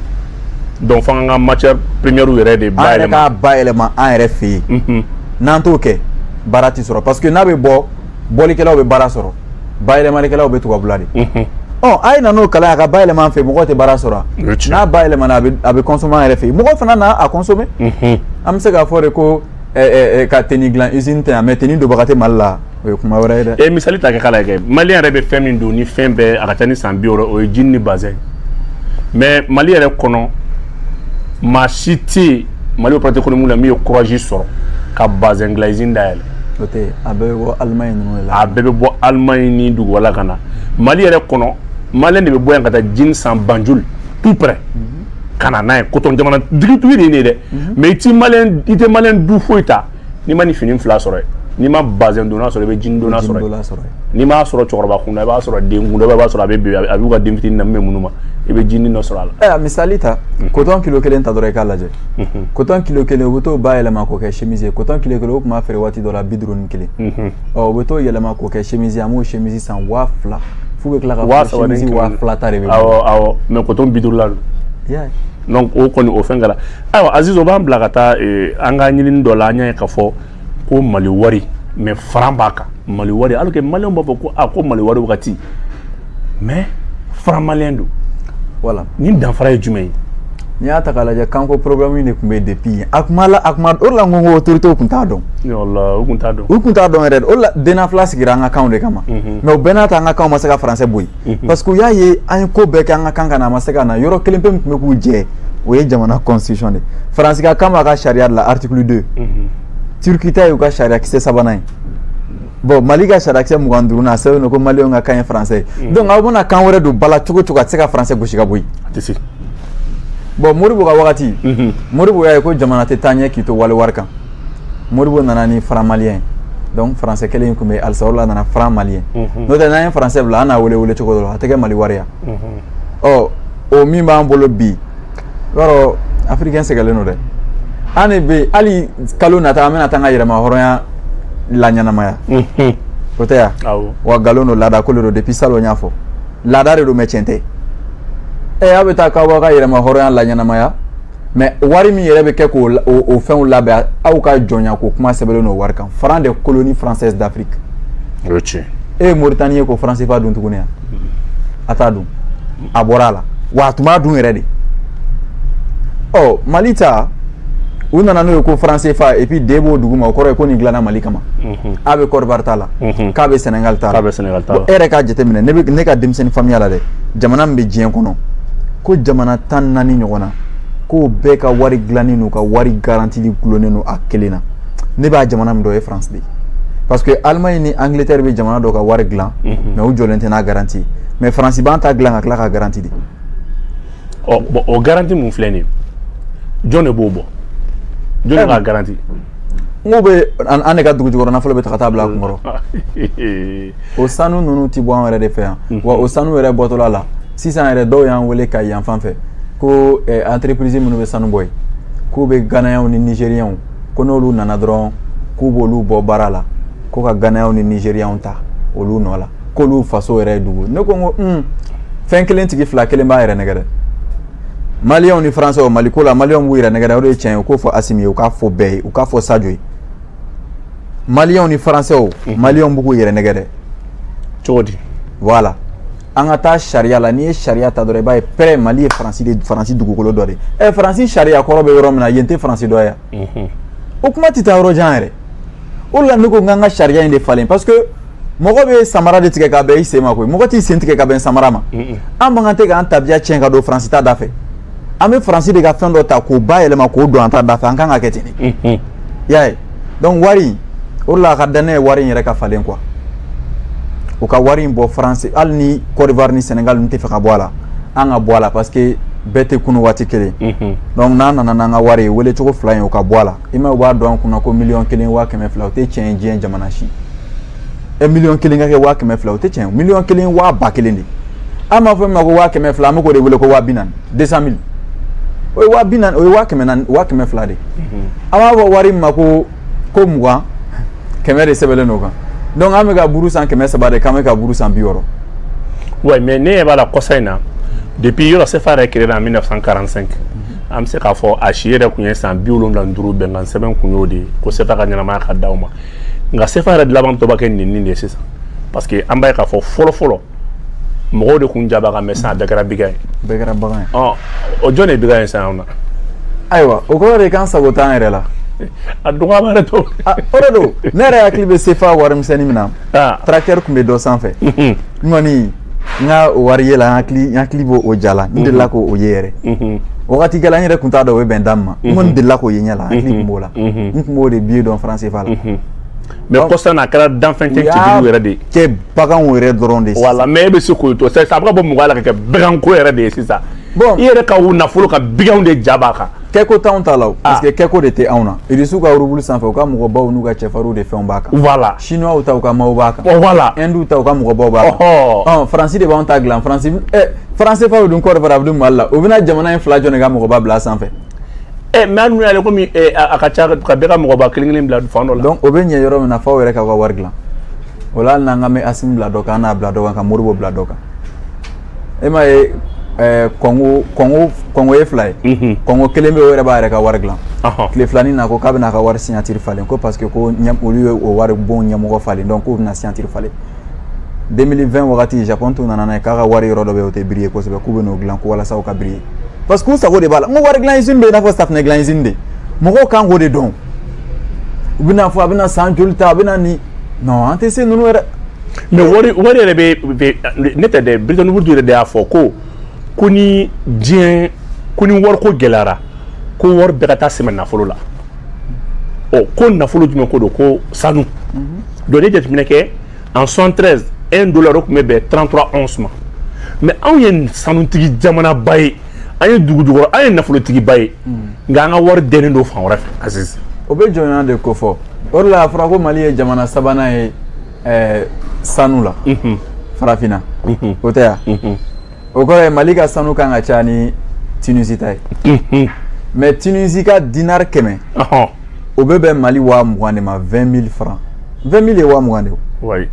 donc fo an ka matière première yɛrɛ de bayɛlɛma an yɛrɛ k'a bayɛlɛma an yɛrɛ fɛ yen n'an t'o kɛ baara tɛ sɔrɔ parce que n'a bɛ bɔ bɔlikɛlaw bɛ baara sɔrɔ bayɛlɛmalikɛlaw bɛ tubabula de ɔ a ye na n'o kalan a ka bayɛlɛma an fɛ mɔgɔ tɛ baara sɔrɔ n'a bayɛlɛmana a bɛ consommé an yɛrɛ fɛ yen mɔgɔ fana na a consommer an bɛ se k'a fɔ de ko ka teni dilan usine tɛ yan mais teni donbaga tɛ mali la o ye kuma wɛrɛ ye dɛ e misali ta kɛ k'a lajɛ mali yɛrɛ bɛ fɛn min don ni fɛn bɛɛ a ka ca ni san bi wɔɔrɔ o ye jini ni bazɛn mais mali yɛrɛ kɔnɔ maa si tɛ yen mali opérateur économique la min ye kurazi sɔrɔ ka bazɛn dilan usine dayɛlɛ o tɛ yen a bɛɛ bɛ bɔ alimaɲi ninnu de la a bɛɛ bɛ bɔ alimaɲi ni duguba la ka na mali yɛrɛ kɔnɔ maliyɛn de bɛ bɔ yan ka taa jini san banjul tout près mm -hmm. ka na n'a ye kotɔn jamana tigitigi de ye nin ye dɛ mais i ti maliyɛn i tɛ maliyɛn du foyi ta n'i ma nin fini fila sɔrɔ yen n'i ma bazɛn donnen sɔrɔ i bɛ jini donnen sɔrɔ yen n'i m'a sɔrɔ cɛkɔrɔba kun na i b'a sɔrɔ den kun na i b'a sɔrɔ a bɛ bebe a b'u ka den fitini na min bɛ minnu ma i bɛ jini dɔ sɔrɔ a la. ɛ a misali ta kotɔn kilo kelen ta dɔrɔn i k'a lajɛ kotɔn kilo kelen u bɛ t'o bayɛlɛma k'o kɛ chemise ye kotɔn kilo kelen u tun b'a feere waati dɔ la bi duuru ni kelen ɔ u bɛ t'o yɛlɛma k'o kɛ chemise ye an b'o chemise san waa fila. f'u bɛ tila ka waa saba ni waa fila ta de bɛ awɔ awɔ mais kɔtɔn bi duuru la don donc o kɔni o fɛn kɛra ayiwa aziz o b'an bila ka taa eh, an ka ɲinini dɔ la an y'a ye k'a fɔ ko mali wari mais faran b'a kan mali wari alors que maliyɛnw b'a fɔ ko a ah, ko mali wari wagati mais faran maliyɛn don voilà nin danfara ye jumɛn ye n'i y'a ta k'a lajɛ kanko problème de tun bɛ yen depuis yen a kuma la a kuma o de la n ko n ko autorités tun t'a dɔn u tun t'a dɔn u tun t'a dɔn yɛrɛ de o de la dnafla sigira an ka kanw de kama mhm. mais o bɛɛ n'a ta an ka kanw ma se ka français bɔ yen mhm. parce que u y'a ye an ye ko bɛɛ kɛ an ka kan ka na a ma se ka na yɔrɔ kelen pe min tun bɛ k'u jɛ o ye jamana constitution de faransi ka kan b'a ka sariya de la article 2 mhm. turki ta y'u ka sariya kisɛ sabanan ye bon mali ka sariyakisɛ mugan ni duurunan a sɛbɛnnen don ko maliyɛnw ka kan ye faransɛ ye donc aw bɛna kan wɛrɛ don ba la cogo o cogo a tɛ se ka faransɛ gosi ka bɔ yen bon modibo ka wagati mhm. modibo y'a ye ko jamana tɛ taa ɲɛ k'i to wali wari kan modibo nana ni faran maliyɛn ye donc faransɛ kelen in tun bɛ halisa o la a nana faran maliyɛn mhm. n'o tɛ n'an ye faransɛ bila an n'a wele welecogo dɔ la a tɛ kɛ mali wari ya ɔ o min b'an bolo bi i b'a dɔn afirikɛn sɛgɛlen don dɛ an de bɛ hali kalo nata an bɛna taa an ka yɛrɛmahɔrɔnya laɲɛnamaya o tɛ ya wa nkalon don laada ko de don depuis salon n y'a fɔ laada de don mais tiɲɛ tɛ ɛ aw bɛ taa k'aw b'aw ka yɛrɛmahɔrɔnya laɲɛnamaya mais wari min yɛrɛ bɛ kɛ k'o o fɛnw labɛn aw ka jɔnya ko kuma sɛbɛnlen don wari kan franc des colonies françaises d'afrique o ye tiɲɛ e ye moritani ye ka faran sefa dun tuguni yan a t'a dun a bɔra a la wa a tun b'a dun yɛrɛ de ɔ mali ta u nana n'o ye ko faran sefa et puis d b'o duguma o kɔrɔ ye ko nin dilanna mali kama mm. a bɛ kɔdiwari ta la k bɛ senegali ta bɛ senegali ta e yɛrɛ k'a jateminɛ ne ka denmisɛnnin faya la dɛ jamana min bɛ diɲɛ kɔnɔ ko jamana tan ni naani ɲɔgɔn na k'o bɛɛ ka wari dilanen n'u ka wari garantili dulonnen don a kelen na ne bɛ jamana min dɔn ye faransi de parce que alimaɲi ni angilɛtɛri bɛ jamana dɔ ka wari dilan mais u jɔlen tɛ n'a garanti mais faransi b'an ta dilan ka tila k'a garanti de ɔ bon o garanti min filɛ nin jɔn de b'o bɔ jɔn ka garanti n ko bɛ an de ka dugu jukɔrɔ nafolo bɛɛ ta ka taa bila a kun kɔrɔ o sanu ninnu tɛ bɔ an yɛrɛ de fɛ yan wa o sanu yɛrɛ bɔtɔla la sisan yɛrɛ dɔw y'an wele kayi fan fɛ ko entreprise minnu bɛ sanu bɔ yen k'u bɛ ganayɛnw ni nizeriyɛnw ko n'olu nana dɔrɔn k'u b'olu bɔ baara la ko ka ganayɛnw ni nizeriyɛnw ta olu nɔ la k'olu faso yɛrɛ ye dugu ne ko n ko fɛn kelen tigi fila kelen b'a yɛrɛ nɛgɛn dɛ maliyɛnw ni faransɛw mali ko la maliyɛnw b'u yɛrɛ nɛgɛn de o de ye tiɲɛ ye u k'o fɔ asimi ye u k'a fɔ bɛɛ ye u k'a fɔ sajo ye maliyɛnw ni faransɛw mhm. maliyɛnw bɛ k'u yɛrɛ nɛgɛn de cogo di voilà an ka taa sariya la n'i ye sariya ta dɔrɔn i b'a ye pɛrɛ mali ye faransi de faransi dugukolo dɔ de ye ɛ faransi sariya kɔrɔ bɛ yɔrɔ min na yen tɛ faransi dɔ ye wa mhm. o kuma tɛ taa yɔrɔ jan yɛrɛ o la ne ko n k'an ka sariya in de falen parce que mɔgɔ bɛ samara de tigɛ ka bɛn i sen ma koyi mɔgɔ t'i sen tigɛ ka bɛn samara ma an man kan tɛ k'an tabiya tiɲɛ ka don faransi ta da fɛ an bɛ faransi de ka fɛn dɔ ta k'o bayɛlɛma k'o don an ta da fɛ an kan ka kɛ ten de y'a ye donc wari o la a ka danaya wari in yɛrɛ ka falen quoi u ka wari in bɔ faransi hali ni Côte d'Ivoire ni Sénégal t'a fɛ ka bɔ a la an ka bɔ a la parce que bɛɛ tɛ kunun waati kelen donc n'an nana n'an ka wari ye wele cogo fila in o ka bɔ a la i ma u b'a don an kun na ko miliyɔn kelen waa kɛmɛ fila o tɛ tiɲɛ ye diɲɛ jamana si ɛ miliyɔn kelen ka kɛ waa kɛmɛ fila o tɛ tiɲɛ ye miliyɔn kelen waa ba kelen de an b'a fɔ min ma ko waa kɛmɛ fila an bɛ k'o de wele ko waa bi naani deux cent mille o ye waa bi naani o ye waa kɛmɛ naani waa kɛmɛ fila de an b'a fɔ wari min ma ko ko mugan kɛmɛ de sɛbɛnlen don o kan donc an bɛ ka buru san kɛmɛ saba de k'an bɛ ka buru san bi wɔɔrɔ. oui mais ne ɲɛ b'a la kɔsa in na depuis yɔrɔ sefa yɛrɛ créé la en 1945. an bɛ se k'a fɔ a si yɛrɛ tun ye san bi wolonwula ni duuru bɛnkan sɛbɛn kun y'o de ye ko sefa ka ɲɛnamaya ka d'aw ma nka sefa yɛrɛ dilaban tɔba kɛ nin nin de ye sisan parce que an b'a ye k'a fɔ fɔlɔfɔlɔ mɔgɔw de kun ja b'a kan mais sisan a bɛɛ kɛra bagan ye bɛɛ kɛra bagan ye ɔ o jɔn de ye bagan ye sisan anw na ayiwa o kɔrɔ de k'an sago t'an yɛrɛ la a dɔgɔya b'a yɛrɛ to o de don ne yɛrɛ hakili bɛ sefa warimisɛnni min na tracteur tun bɛ dɔ sanfɛ n kɔni n ka o wari ye la n hakili n hakili b'o o ja la n delila k'o o ye yɛrɛ wagati kɛla n yɛrɛ tun t'a dɔn o bɛ bɛn da min ma n kɔni delila k'o ye ɲɛ la n hakili tun b'o la n tun b'o de billet dɔn faran sefa la mais kɔsa in na a kɛra danfɛn tɛ cɛjugu yɛrɛ de ye kɛ baganw yɛrɛ dɔrɔn de voilà mais e bɛ se k'o to sisan a bɛ ka bɔ mɔgɔ la ka kɛ baganko yɛrɛ de ye sisan bon i yɛrɛ ka u nafolo ka biganw de ja b'a kan kɛko t'anw ta la parce que kɛko de tɛ anw na irisiw ka rubulu sanfɛ u ka mɔgɔbaw n'u ka cɛfarinw de fɛnw b'a kan voilà chinois ta u ka maaw b'a kan oh, voilà hindu ta u ka mɔgɔbaw b'a kan oh, oh. faransi de b'anw ta dilan faransi eh, faran sefa o dun kɔrɔfɛ a bɛ dun mali la u bɛna jamana in fila jɔn de ka mɔgɔba bila sanfɛ eh, mais hali n'u y'ale komi eh, a ka ca ka bɛɛ ka mɔgɔba kelen kelen bila fan dɔ la donc o bɛ ɲɛ yɔrɔ min na f'aw yɛrɛ k'aw ka wari dilan o la hali n'an ka mɛ asimi bila dɔ kan an n'a bila dɔ kan ka modibo bila dɔ kan e m'a ye eh, kɔngo kɔngo kɔngo ye fila ye mhm. kɔngo kelen bɛ o yɛrɛ b'a yɛrɛ ka wari dilan tile filanin na ko k'a bɛna a ka wari signatiri falen ko parce que ko olu ye o waribon ɲɛmɔgɔ falen donc k'u bɛna signatiri falen 2020 wagati japon tun nana n'a ye k'a ka wari yɔrɔ dɔ bɛ o tɛ biriye kosɛbɛ k'u bɛ n'o dilan ko walasa u ka biriye parce que u sago de b'a la n ko wari dilan izini bɛ i n'a fɔ safinɛ dilan izini de mɔgɔw kan k'o de dɔn u bɛna fɔ a bɛna san joli ta a bɛna nin non an tɛ se ninnu yɛrɛ. mais wari wari yɛrɛ bɛ ne tɛ dɛ Bretton Woods yɛrɛ de y'a fɔ ko ko ni diɲɛ ko ni wariko gɛlɛyara ko wari bɛɛ ka taa sɛmɛ nafolo la ɔ ko nafolo jumɛn ko don ko sanu donc ne jateminɛ kɛ en 73 un dollar o tun bɛ bɛn 33 once ma mais anw ye sanutigi jamanaba ye. an ye dugujukɔrɔ an ye nafolotigiba ye nka an ka wari dɛnnen don fan wɛrɛ fɛ aziz o bɛ jɔnya de kofɔ o de la a fɔra ko mali ye jamana sabanan ye eh, sanu la farafinna o tɛ yan o kɔrɔ ye mali ka sanu kan ka caya ni tunisi ta ye mais tunisi ka dinari kɛmɛ o bɛ bɛn mali waa mugan de ma 20 mille francs 20 mille ye waa mugan de ye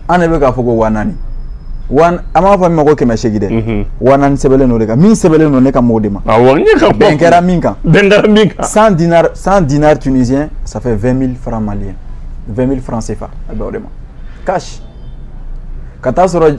an de bɛ k'a fɔ ko waa naani an b'a fɔ min ma ko kɛmɛ seegin dɛ mhm. waa naani sɛbɛnlen don o de kan min sɛbɛnlen don ne ka mɔgɔw de ma bɛn kɛra min kan bɛn kɛra min kan 100 dinars 100 dinars tunisiens ça fait 20 mille francs maliens 20 mille francs CFA a bɛ o de ma cash ka taa sɔrɔ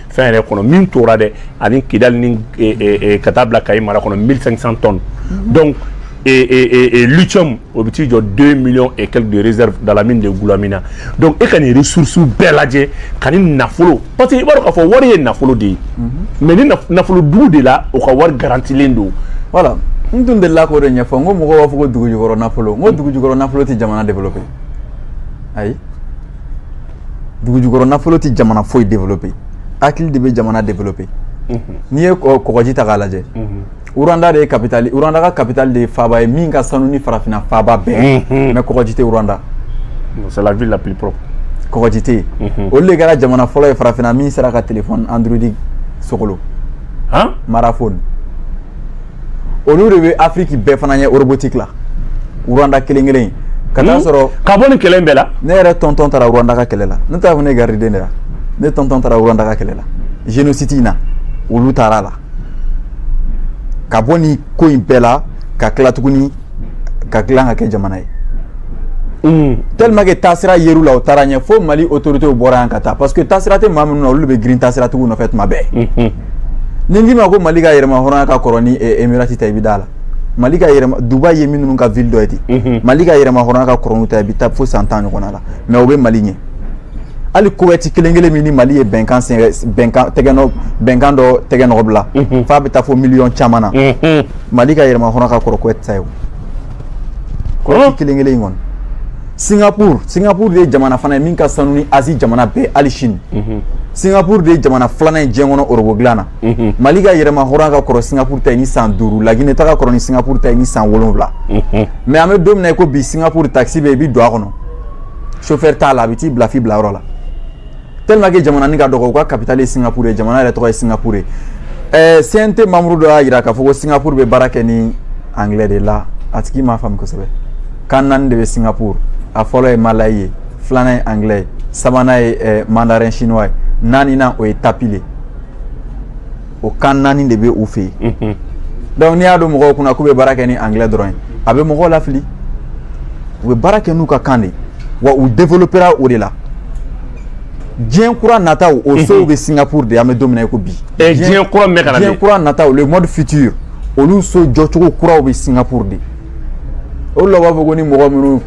fɛn yɛrɛ kɔnɔ min tora dɛ ani kidali ni eh, eh, eh, ka taa bila kayi mara kɔnɔ 1500 tonnes mhm. donc lithium o bɛ t'i jɔ 2 millions et quelques de réserve dans la mine de Goulamina donc e ka nin ressources bɛɛ lajɛ ka nin nafolo parce que i b'a dɔn k'a fɔ wari ye nafolo de ye mhm. mais ni nafolo dugu de la o ka wari garantilen don voilà n tun delila k'o de ɲɛfɔ n ko mɔgɔw b'a fɔ ko dugujukɔrɔ nafolo n ko dugujukɔrɔ nafolo tɛ jamana développer ayi dugujukɔrɔ nafolo tɛ jamana foyi développer hakili de bɛ jamana développer n'i ye kɔgɔji ta k'a lajɛ Rwanda de ye capitale Rwanda ka capitale de ye faaba ye min ka sanu ni farafinna faaba bɛɛ mais kɔgɔji tɛ Rwanda c'est la ville la plus propre kɔgɔji tɛ yen olu de kɛra jamana fɔlɔ ye farafinna min sera ka téléphone Android sogolon mara phone olu de bɛ afiriki bɛɛ fana ɲɛ robotique la Rwanda kelen kelen ka taa hmm? sɔrɔ ka bɔ nin kɛlɛ bɛɛ la ne yɛrɛ tonton taara Rwanda ka kɛlɛ la ne taara ne gariden de la ne tonton taara Rwanda ka kɛlɛ la génocide in na olu taara la ka bɔ nin ko in bɛɛ la ka tila tuguni k'a dilan k'a kɛ jamana ye mm. tellement que taasira yer'u la u taara ɲɛ fo mali autoritéw bɔra yan ka taa parce que taasira tɛ maa minnu na olu de bɛ girin taasiratigiw nɔfɛ tuma bɛɛ mm-hmm. ni n k'i ma ko mali ka yɛrɛmahɔrɔnya ka kɔrɔ ni eh, emirati ta i bɛ d'a la mali ka yɛrɛma dubai ye minnu ka ville dɔ ye ten mm-hmm. mali ka yɛrɛmahɔrɔnya ka kɔrɔ n'u ta i bɛ taa fo san tan ɲɔgɔnna la mais u bɛ mali ɲɛ hali kowɛti kelen kelen min ni mali ye bɛnkan bɛnkan tɛgɛnɔ bɛnkan dɔ tɛgɛnɔ bila mhm. f'a bɛ taa fo miliyɔn caman na mhm. mali ka yɛrɛmahɔrɔnya ka kɔrɔ kowɛti ta ye o kowɛti kelen kelen in kɔni singapur singapur de ye jamana fana ye min ka sanu ni azi jamana bɛɛ hali sini mhm. singapur de ye jamana filanan ye diɲɛ kɔnɔ orobo dilan na mhm. mali ka yɛrɛmahɔrɔnya ka kɔrɔ singapur ta ye ni san duuru lagine ta ka kɔrɔ ni singapur ta ye ni san wolonwula ye mhm. an bɛ don min na i ko bi singapur takisi bɛ i bɛ don a kɔnɔ chauffeur t'a la a bɛ t'i bila f'i bilayɔrɔ la tellement que jamananin ka dɔgɔ u ka capitale ye Singapour ye jamana yɛrɛ tɔgɔ ye Singapour ye ɛɛ CNT membre dɔ y'a jira k'a fɔ ko Singapour bɛ baara kɛ ni anglais de la a tigi m'a faamu kosɛbɛ kan naani de bɛ Singapour a fɔlɔ ye Malayi ye filanan ye anglais ye sabanan ye ɛɛ mandarin chinois ye naaninan o ye tamil de ye o kan naani de bɛ u fɛ yen donc n'i y'a don mɔgɔw kun na k'u bɛ baara kɛ ni anglais dɔrɔn ye a bɛ mɔgɔw lafili u bɛ baara kɛ n'u ka kan de wa u développera o de la diɲɛ kura nataw o sow bɛ Singapour de an bɛ don min na i ko bi diɲɛ kura min bɛ ka na diɲɛ kura nataw le monde futur olu so jɔcogo kuraw bɛ Singapour de o la u b'a fɔ ko ni mɔgɔ minnu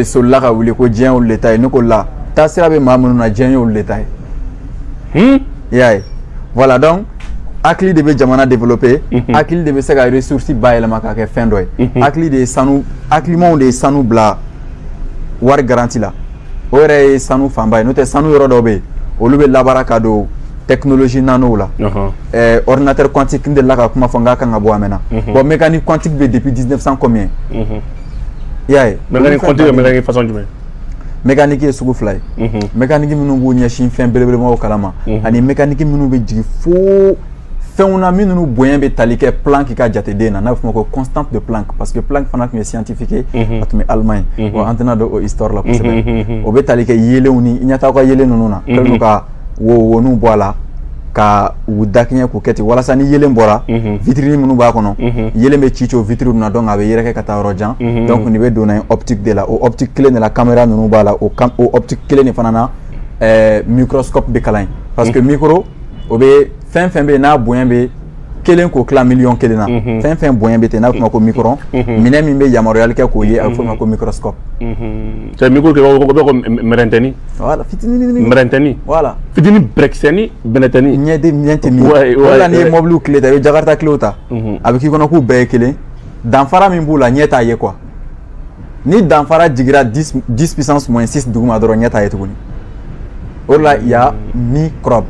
solila ka wuli ko diɲɛ y'olu de ta ye ne ko la taasira bɛ maa minnu na diɲɛ y'olu de ta ye hmm? i y'a ye voilà donc hakili de bɛ jamana développer mhm. hakili de bɛ se ka ressource bayɛlɛma k'a kɛ fɛn dɔ ye mhm. hakili de ye sanu hakilimaw de ye sanu bila wari garanti la o yɛrɛ ye sanu fanba ye n'o tɛ sanu yɔrɔ dɔw bɛ yen olu bɛ labaara ka don technologie nanow la eh, ordinateur quantique n delila ka kuma fɔ n k'a kan ka bɔ a mɛɛnna mhm. bon mécanique quantique bɛ depuis 1900 combien i y'a ye mécanique quantique ye mécanique façon jumɛn mɛkaniki ye sugu fila ye mɛkaniki minnu b'u ɲɛsin fɛn belebelemaw kalan ma ani mɛkaniki minnu bɛ jigin fo fɛnw na minnu bonya bɛ tali kɛ plank ka jateden na n'a bɛ f'o ma ko constante de plank parce que plank fana tun ye scientifique ye a tun bɛ Allemagne bon an tɛna don o histoire la kosɛbɛ o bɛ tali kɛ yeelenw ni i ɲɛ t'aw ka yeelen ninnu na kɛlen don ka wowoniw bɔ a la ka u dakɛɲɛ k'u kɛ ten walasa ni yeelen bɔra vitirinin minnu b'a kɔnɔ yeelen bɛ ci ci o vitiri ninnu na donc a bɛ yɛrɛkɛ ka taa yɔrɔ jan donc nin bɛ don optique de la o optique kelen de la kamera ninnu b'a la o optique kelen de fana na microscope bɛ kalan parce que micro o bɛ fɛn fɛn bɛ yen n'a bonya bɛ kelen k'o tila miliyɔn kelen na fɛn fɛn bonya bɛ ten a bɛ f'o ma ko micro minɛn min bɛ yamaruyali kɛ k'o ye a bɛ f'o ma ko microscope micro kɛ ko bɛ ko mɛrɛntɛni wala fitinin mɛrɛntɛni wala fitini bɛrɛkisɛni bɛnɛtɛni ɲɛ de ɲɛ tɛ min wala n'i ye mɔbiliw kile ta i bɛ jakarita kilew ta a bɛ k'i kɔnɔ k'u bɛɛ ye kelen danfara min b'u la ɲɛ t'a ye quoi ni danfara jigira 10 puissance moins 6 duguma dɔrɔn ɲɛ t'a ye tuguni o de la il y a microbe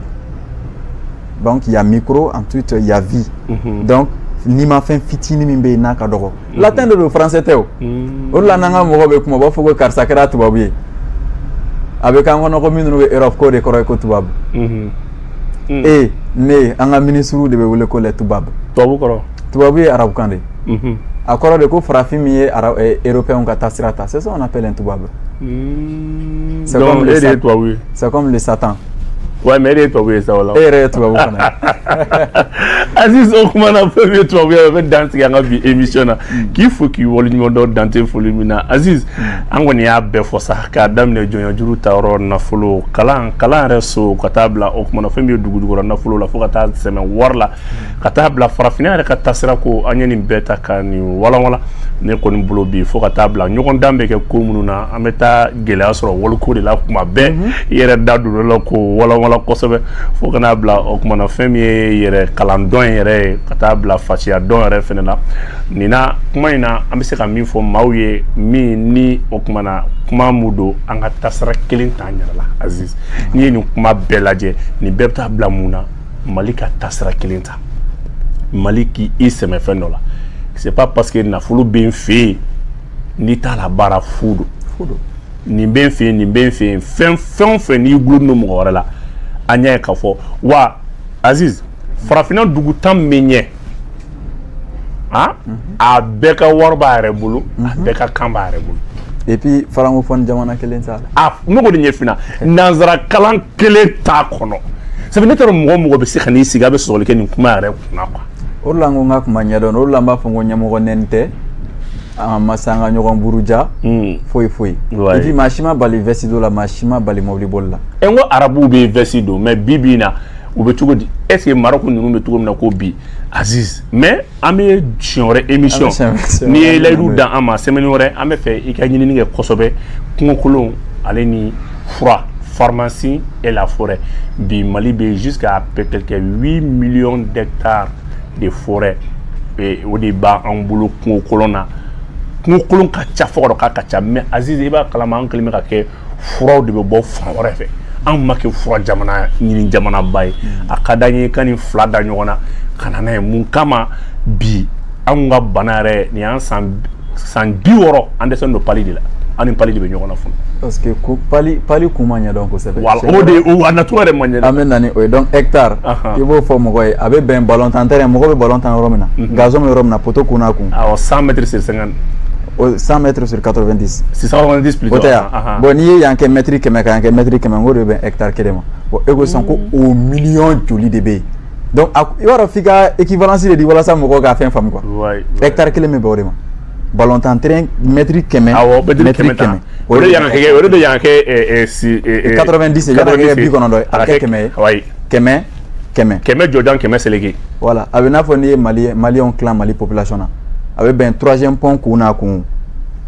donc il y a micro ensuite il y a vie mhm. donc nimafɛn fitinin min bɛ yen n'a ka dɔgɔ mhm. latin de don français tɛ o mhm. o de la n'an ka mɔgɔw bɛ kuma u b'a fɔ ko karisa kɛra tubabu ye a bɛ k'an kɔnɔ ko minnu bɛ europe k'o de kɔrɔ ye ko tubabu e ne an ka minisiriw de bɛ wele ko les tubabu tubabu kɔrɔ tubabu ye arabukan de ye a kɔrɔ de ko farafin min ye eh, européenw ka taasira ta c'est ça on appelle un tubabu c'est comme le satan Wa mais e ye tubabu ye sa la e yɛrɛ ye tubabu aziz o kuma na fɛn min ye tubabu ye bɛ dan sigi an ka bi émission na k'i fo k'i waleɲumandɔn dan tɛ foli min na aziz an kɔni y'a bɛɛ fɔ sa k'a daminɛ jɔnjuru ta yɔrɔ nafolo kalan kalan yɛrɛ so ka taa bila o kumana fɛn min ye dugu jukɔrɔ nafolo la fo ka taa sɛmɛ wari la ka taa bila farafinna yɛrɛ ka taasira ko an ye nin bɛɛ ta ka nin walanwalan ne kɔni bolo bi fo ka taa bila ɲɔgɔndan bɛ kɛ ko minnu na an bɛ taa gɛlɛya sɔrɔ wariko de la kuma bɛɛ mhm. i yɛrɛ da don la k'o walanwalan kosɛbɛ fo ka na bila o kumana fɛn min ye yɛrɛ kalan dɔn yɛrɛ ye ka taa bila fasiya dɔn yɛrɛ fana la nin na kuma in na an bɛ se ka min fɔ maaw ye min ni o kumana kuma mu don an ka taasira kelen t'an yɛrɛ la aziz n'i ye nin kuma bɛɛ lajɛ nin bɛɛ bɛ taa bila mun na mali ka taasira kelen ta mali k'i sɛmɛ fɛn dɔ la c'est pas parce que nafolo bɛ n fɛ yen n'i t'a labaara fu don nin bɛ n fɛ yen nin bɛ n fɛ yen fɛn fɛn o fɛn n'i gulon don mɔgɔ wɛrɛ la an y'a ye k'a fɔ wa aziz farafinna dugu tan min ɲɛ ah a bɛɛ ka wari b'a yɛrɛ bolo a mhm. bɛɛ ka kan b'a yɛrɛ bolo et puis francophone jamana kelen t'a la a ne ko de ɲɛfina nanzara kalan kelen t'a kɔnɔ sabu ne taara mɔgɔ mɔgɔ bɛ se ka n'i sigi a bɛ sɔsɔli kɛ nin kuma yɛrɛ kunna quoi o de la n ko n ka kuma ɲɛdɔn o de la n b'a fɔ n ko ɲɛmɔgɔ nɛni tɛ an ma se an ka ɲɔgɔn buruja hmm. foyi foyi et puis maa si ma bali veste don la maa si ma bali mɔbili boli la e n ko arabuw bɛ veste don mais bi bi in na u bɛ cogo di est ce que Maroc ninnu bɛ cogo min na ko bi Aziz mais an bɛ siɲɛ wɛrɛ émission n'i ye layidu d'an ma semaine wɛrɛ an b'a fɛ i ka ɲinini kɛ kosɛbɛ kungokolon ale ni fura pharmacie et la forêt bi Mali bɛ jusqu'à quelque 8 millions d'hectares de forêt o de b'an bolo kungokolon na kungokolon ka ca fo ka dɔ k'a ka ca mais Aziz i b'a kalama an kɛlen bɛ ka kɛ furaw de bɛ bɔ fan wɛrɛ fɛ anw ma kɛ fura jamana ɲini jamanaba ye a ka d'an ye ka nin fila da ɲɔgɔn na ka na n'a ye mun kama bi anw ka bana yɛrɛ nin y'an san san biwɔɔrɔ an dɛsɛlen don pali de la an ni pali de bɛ ɲɔgɔn na fɔlɔ. parce que ko pali pali kun ma ɲɛdɔn kosɛbɛ. wala o de o a nacogo yɛrɛ ma ɲɛdɔn. an bɛ na ni o ye donc hectare. i b'o fɔ mɔgɔ ye a bɛ bɛn balon tan terrain mɔgɔ bɛ balon tan yɔrɔ min na. gazon bɛ yɔrɔ min na poteau kun n'a kun. awɔ 100 mètres sur 50. 100 mètres sur 90. 690 plutôt. O tɛ yan. Ah, ah. Bon n'i ye yan kɛ mètre kɛmɛ ka yan kɛ mètre kɛmɛ k'o de bɛ hectare kelen ma. Bon e ko sisan ko mm. o miliyɔn joli de bɛ yen. Donc a i b'a dɔn f'i ka équivalence de di walasa mɔgɔw ka fɛn faamu quoi. Wayi. Hectare kelen bɛ bɛn o de ma. Balontan terrain mètre kɛmɛ. Awɔ mètre kɛmɛ. O de yan kɛ o de yan kɛ si. 90 yan kɛ bi kɔnɔntɔn ye. A kɛ kɛmɛ ye. Wayi. Kɛmɛ. kɛmɛ kɛmɛ jɔjan kɛmɛ seleke voilà a bɛ n'a fɔ n'i ye mali maliyɛnw tilan mali population na a bɛ bɛn troisième pont kun n'a kun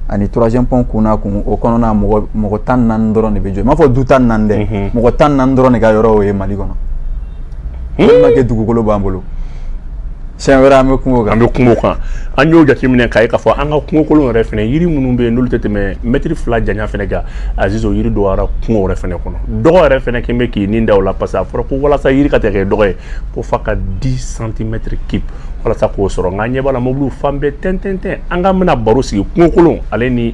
ani troisième pont kun n'a kun o kɔnɔna mɔgɔ mɔgɔ tan ni naani dɔrɔn de bɛ jɔ n m'a fɔ du tan ni naani dɛ mhm. mɔgɔ tan ni naani dɔrɔn de ka yɔrɔ o ye mali kɔnɔ walima hmm? kɛ dugukolo b'an bolo sɛ wɛrɛ an bɛ kungo kan an bɛ kungo kan an y'o jateminɛ k'a ye k'a fɔ an ka kungokolon yɛrɛ fana yiri minnu bɛ yen n'olu tɛ tɛmɛ mɛtiri fila janya fana kan aziz yiri dɔgɔyara kungo yɛrɛ fana kɔnɔ dɔgɔ yɛrɛ fana kɛn bɛ k'i ni da o la parce que a fɔra ko walasa yiri ka tɛ kɛ dɔgɔ ye ko f'a ka di santimɛtiri cube walasa k'o sɔrɔ nka ɲɛ b'a la mobiliw fan bɛɛ tɛntɛntɛn nka an bɛna baro sigi kungokolon ale ni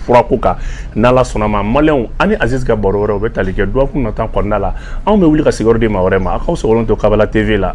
furako kan n'ala sɔnna ma maliyɛnw ani aziz ka baro wɛrɛ o bɛ tali kɛ dɔgɔkun nata kɔnɔna la anw bɛ wuli ka sigiyɔrɔ di maa wɛrɛ ma aw k'aw sɔgɔlen to kabala tv la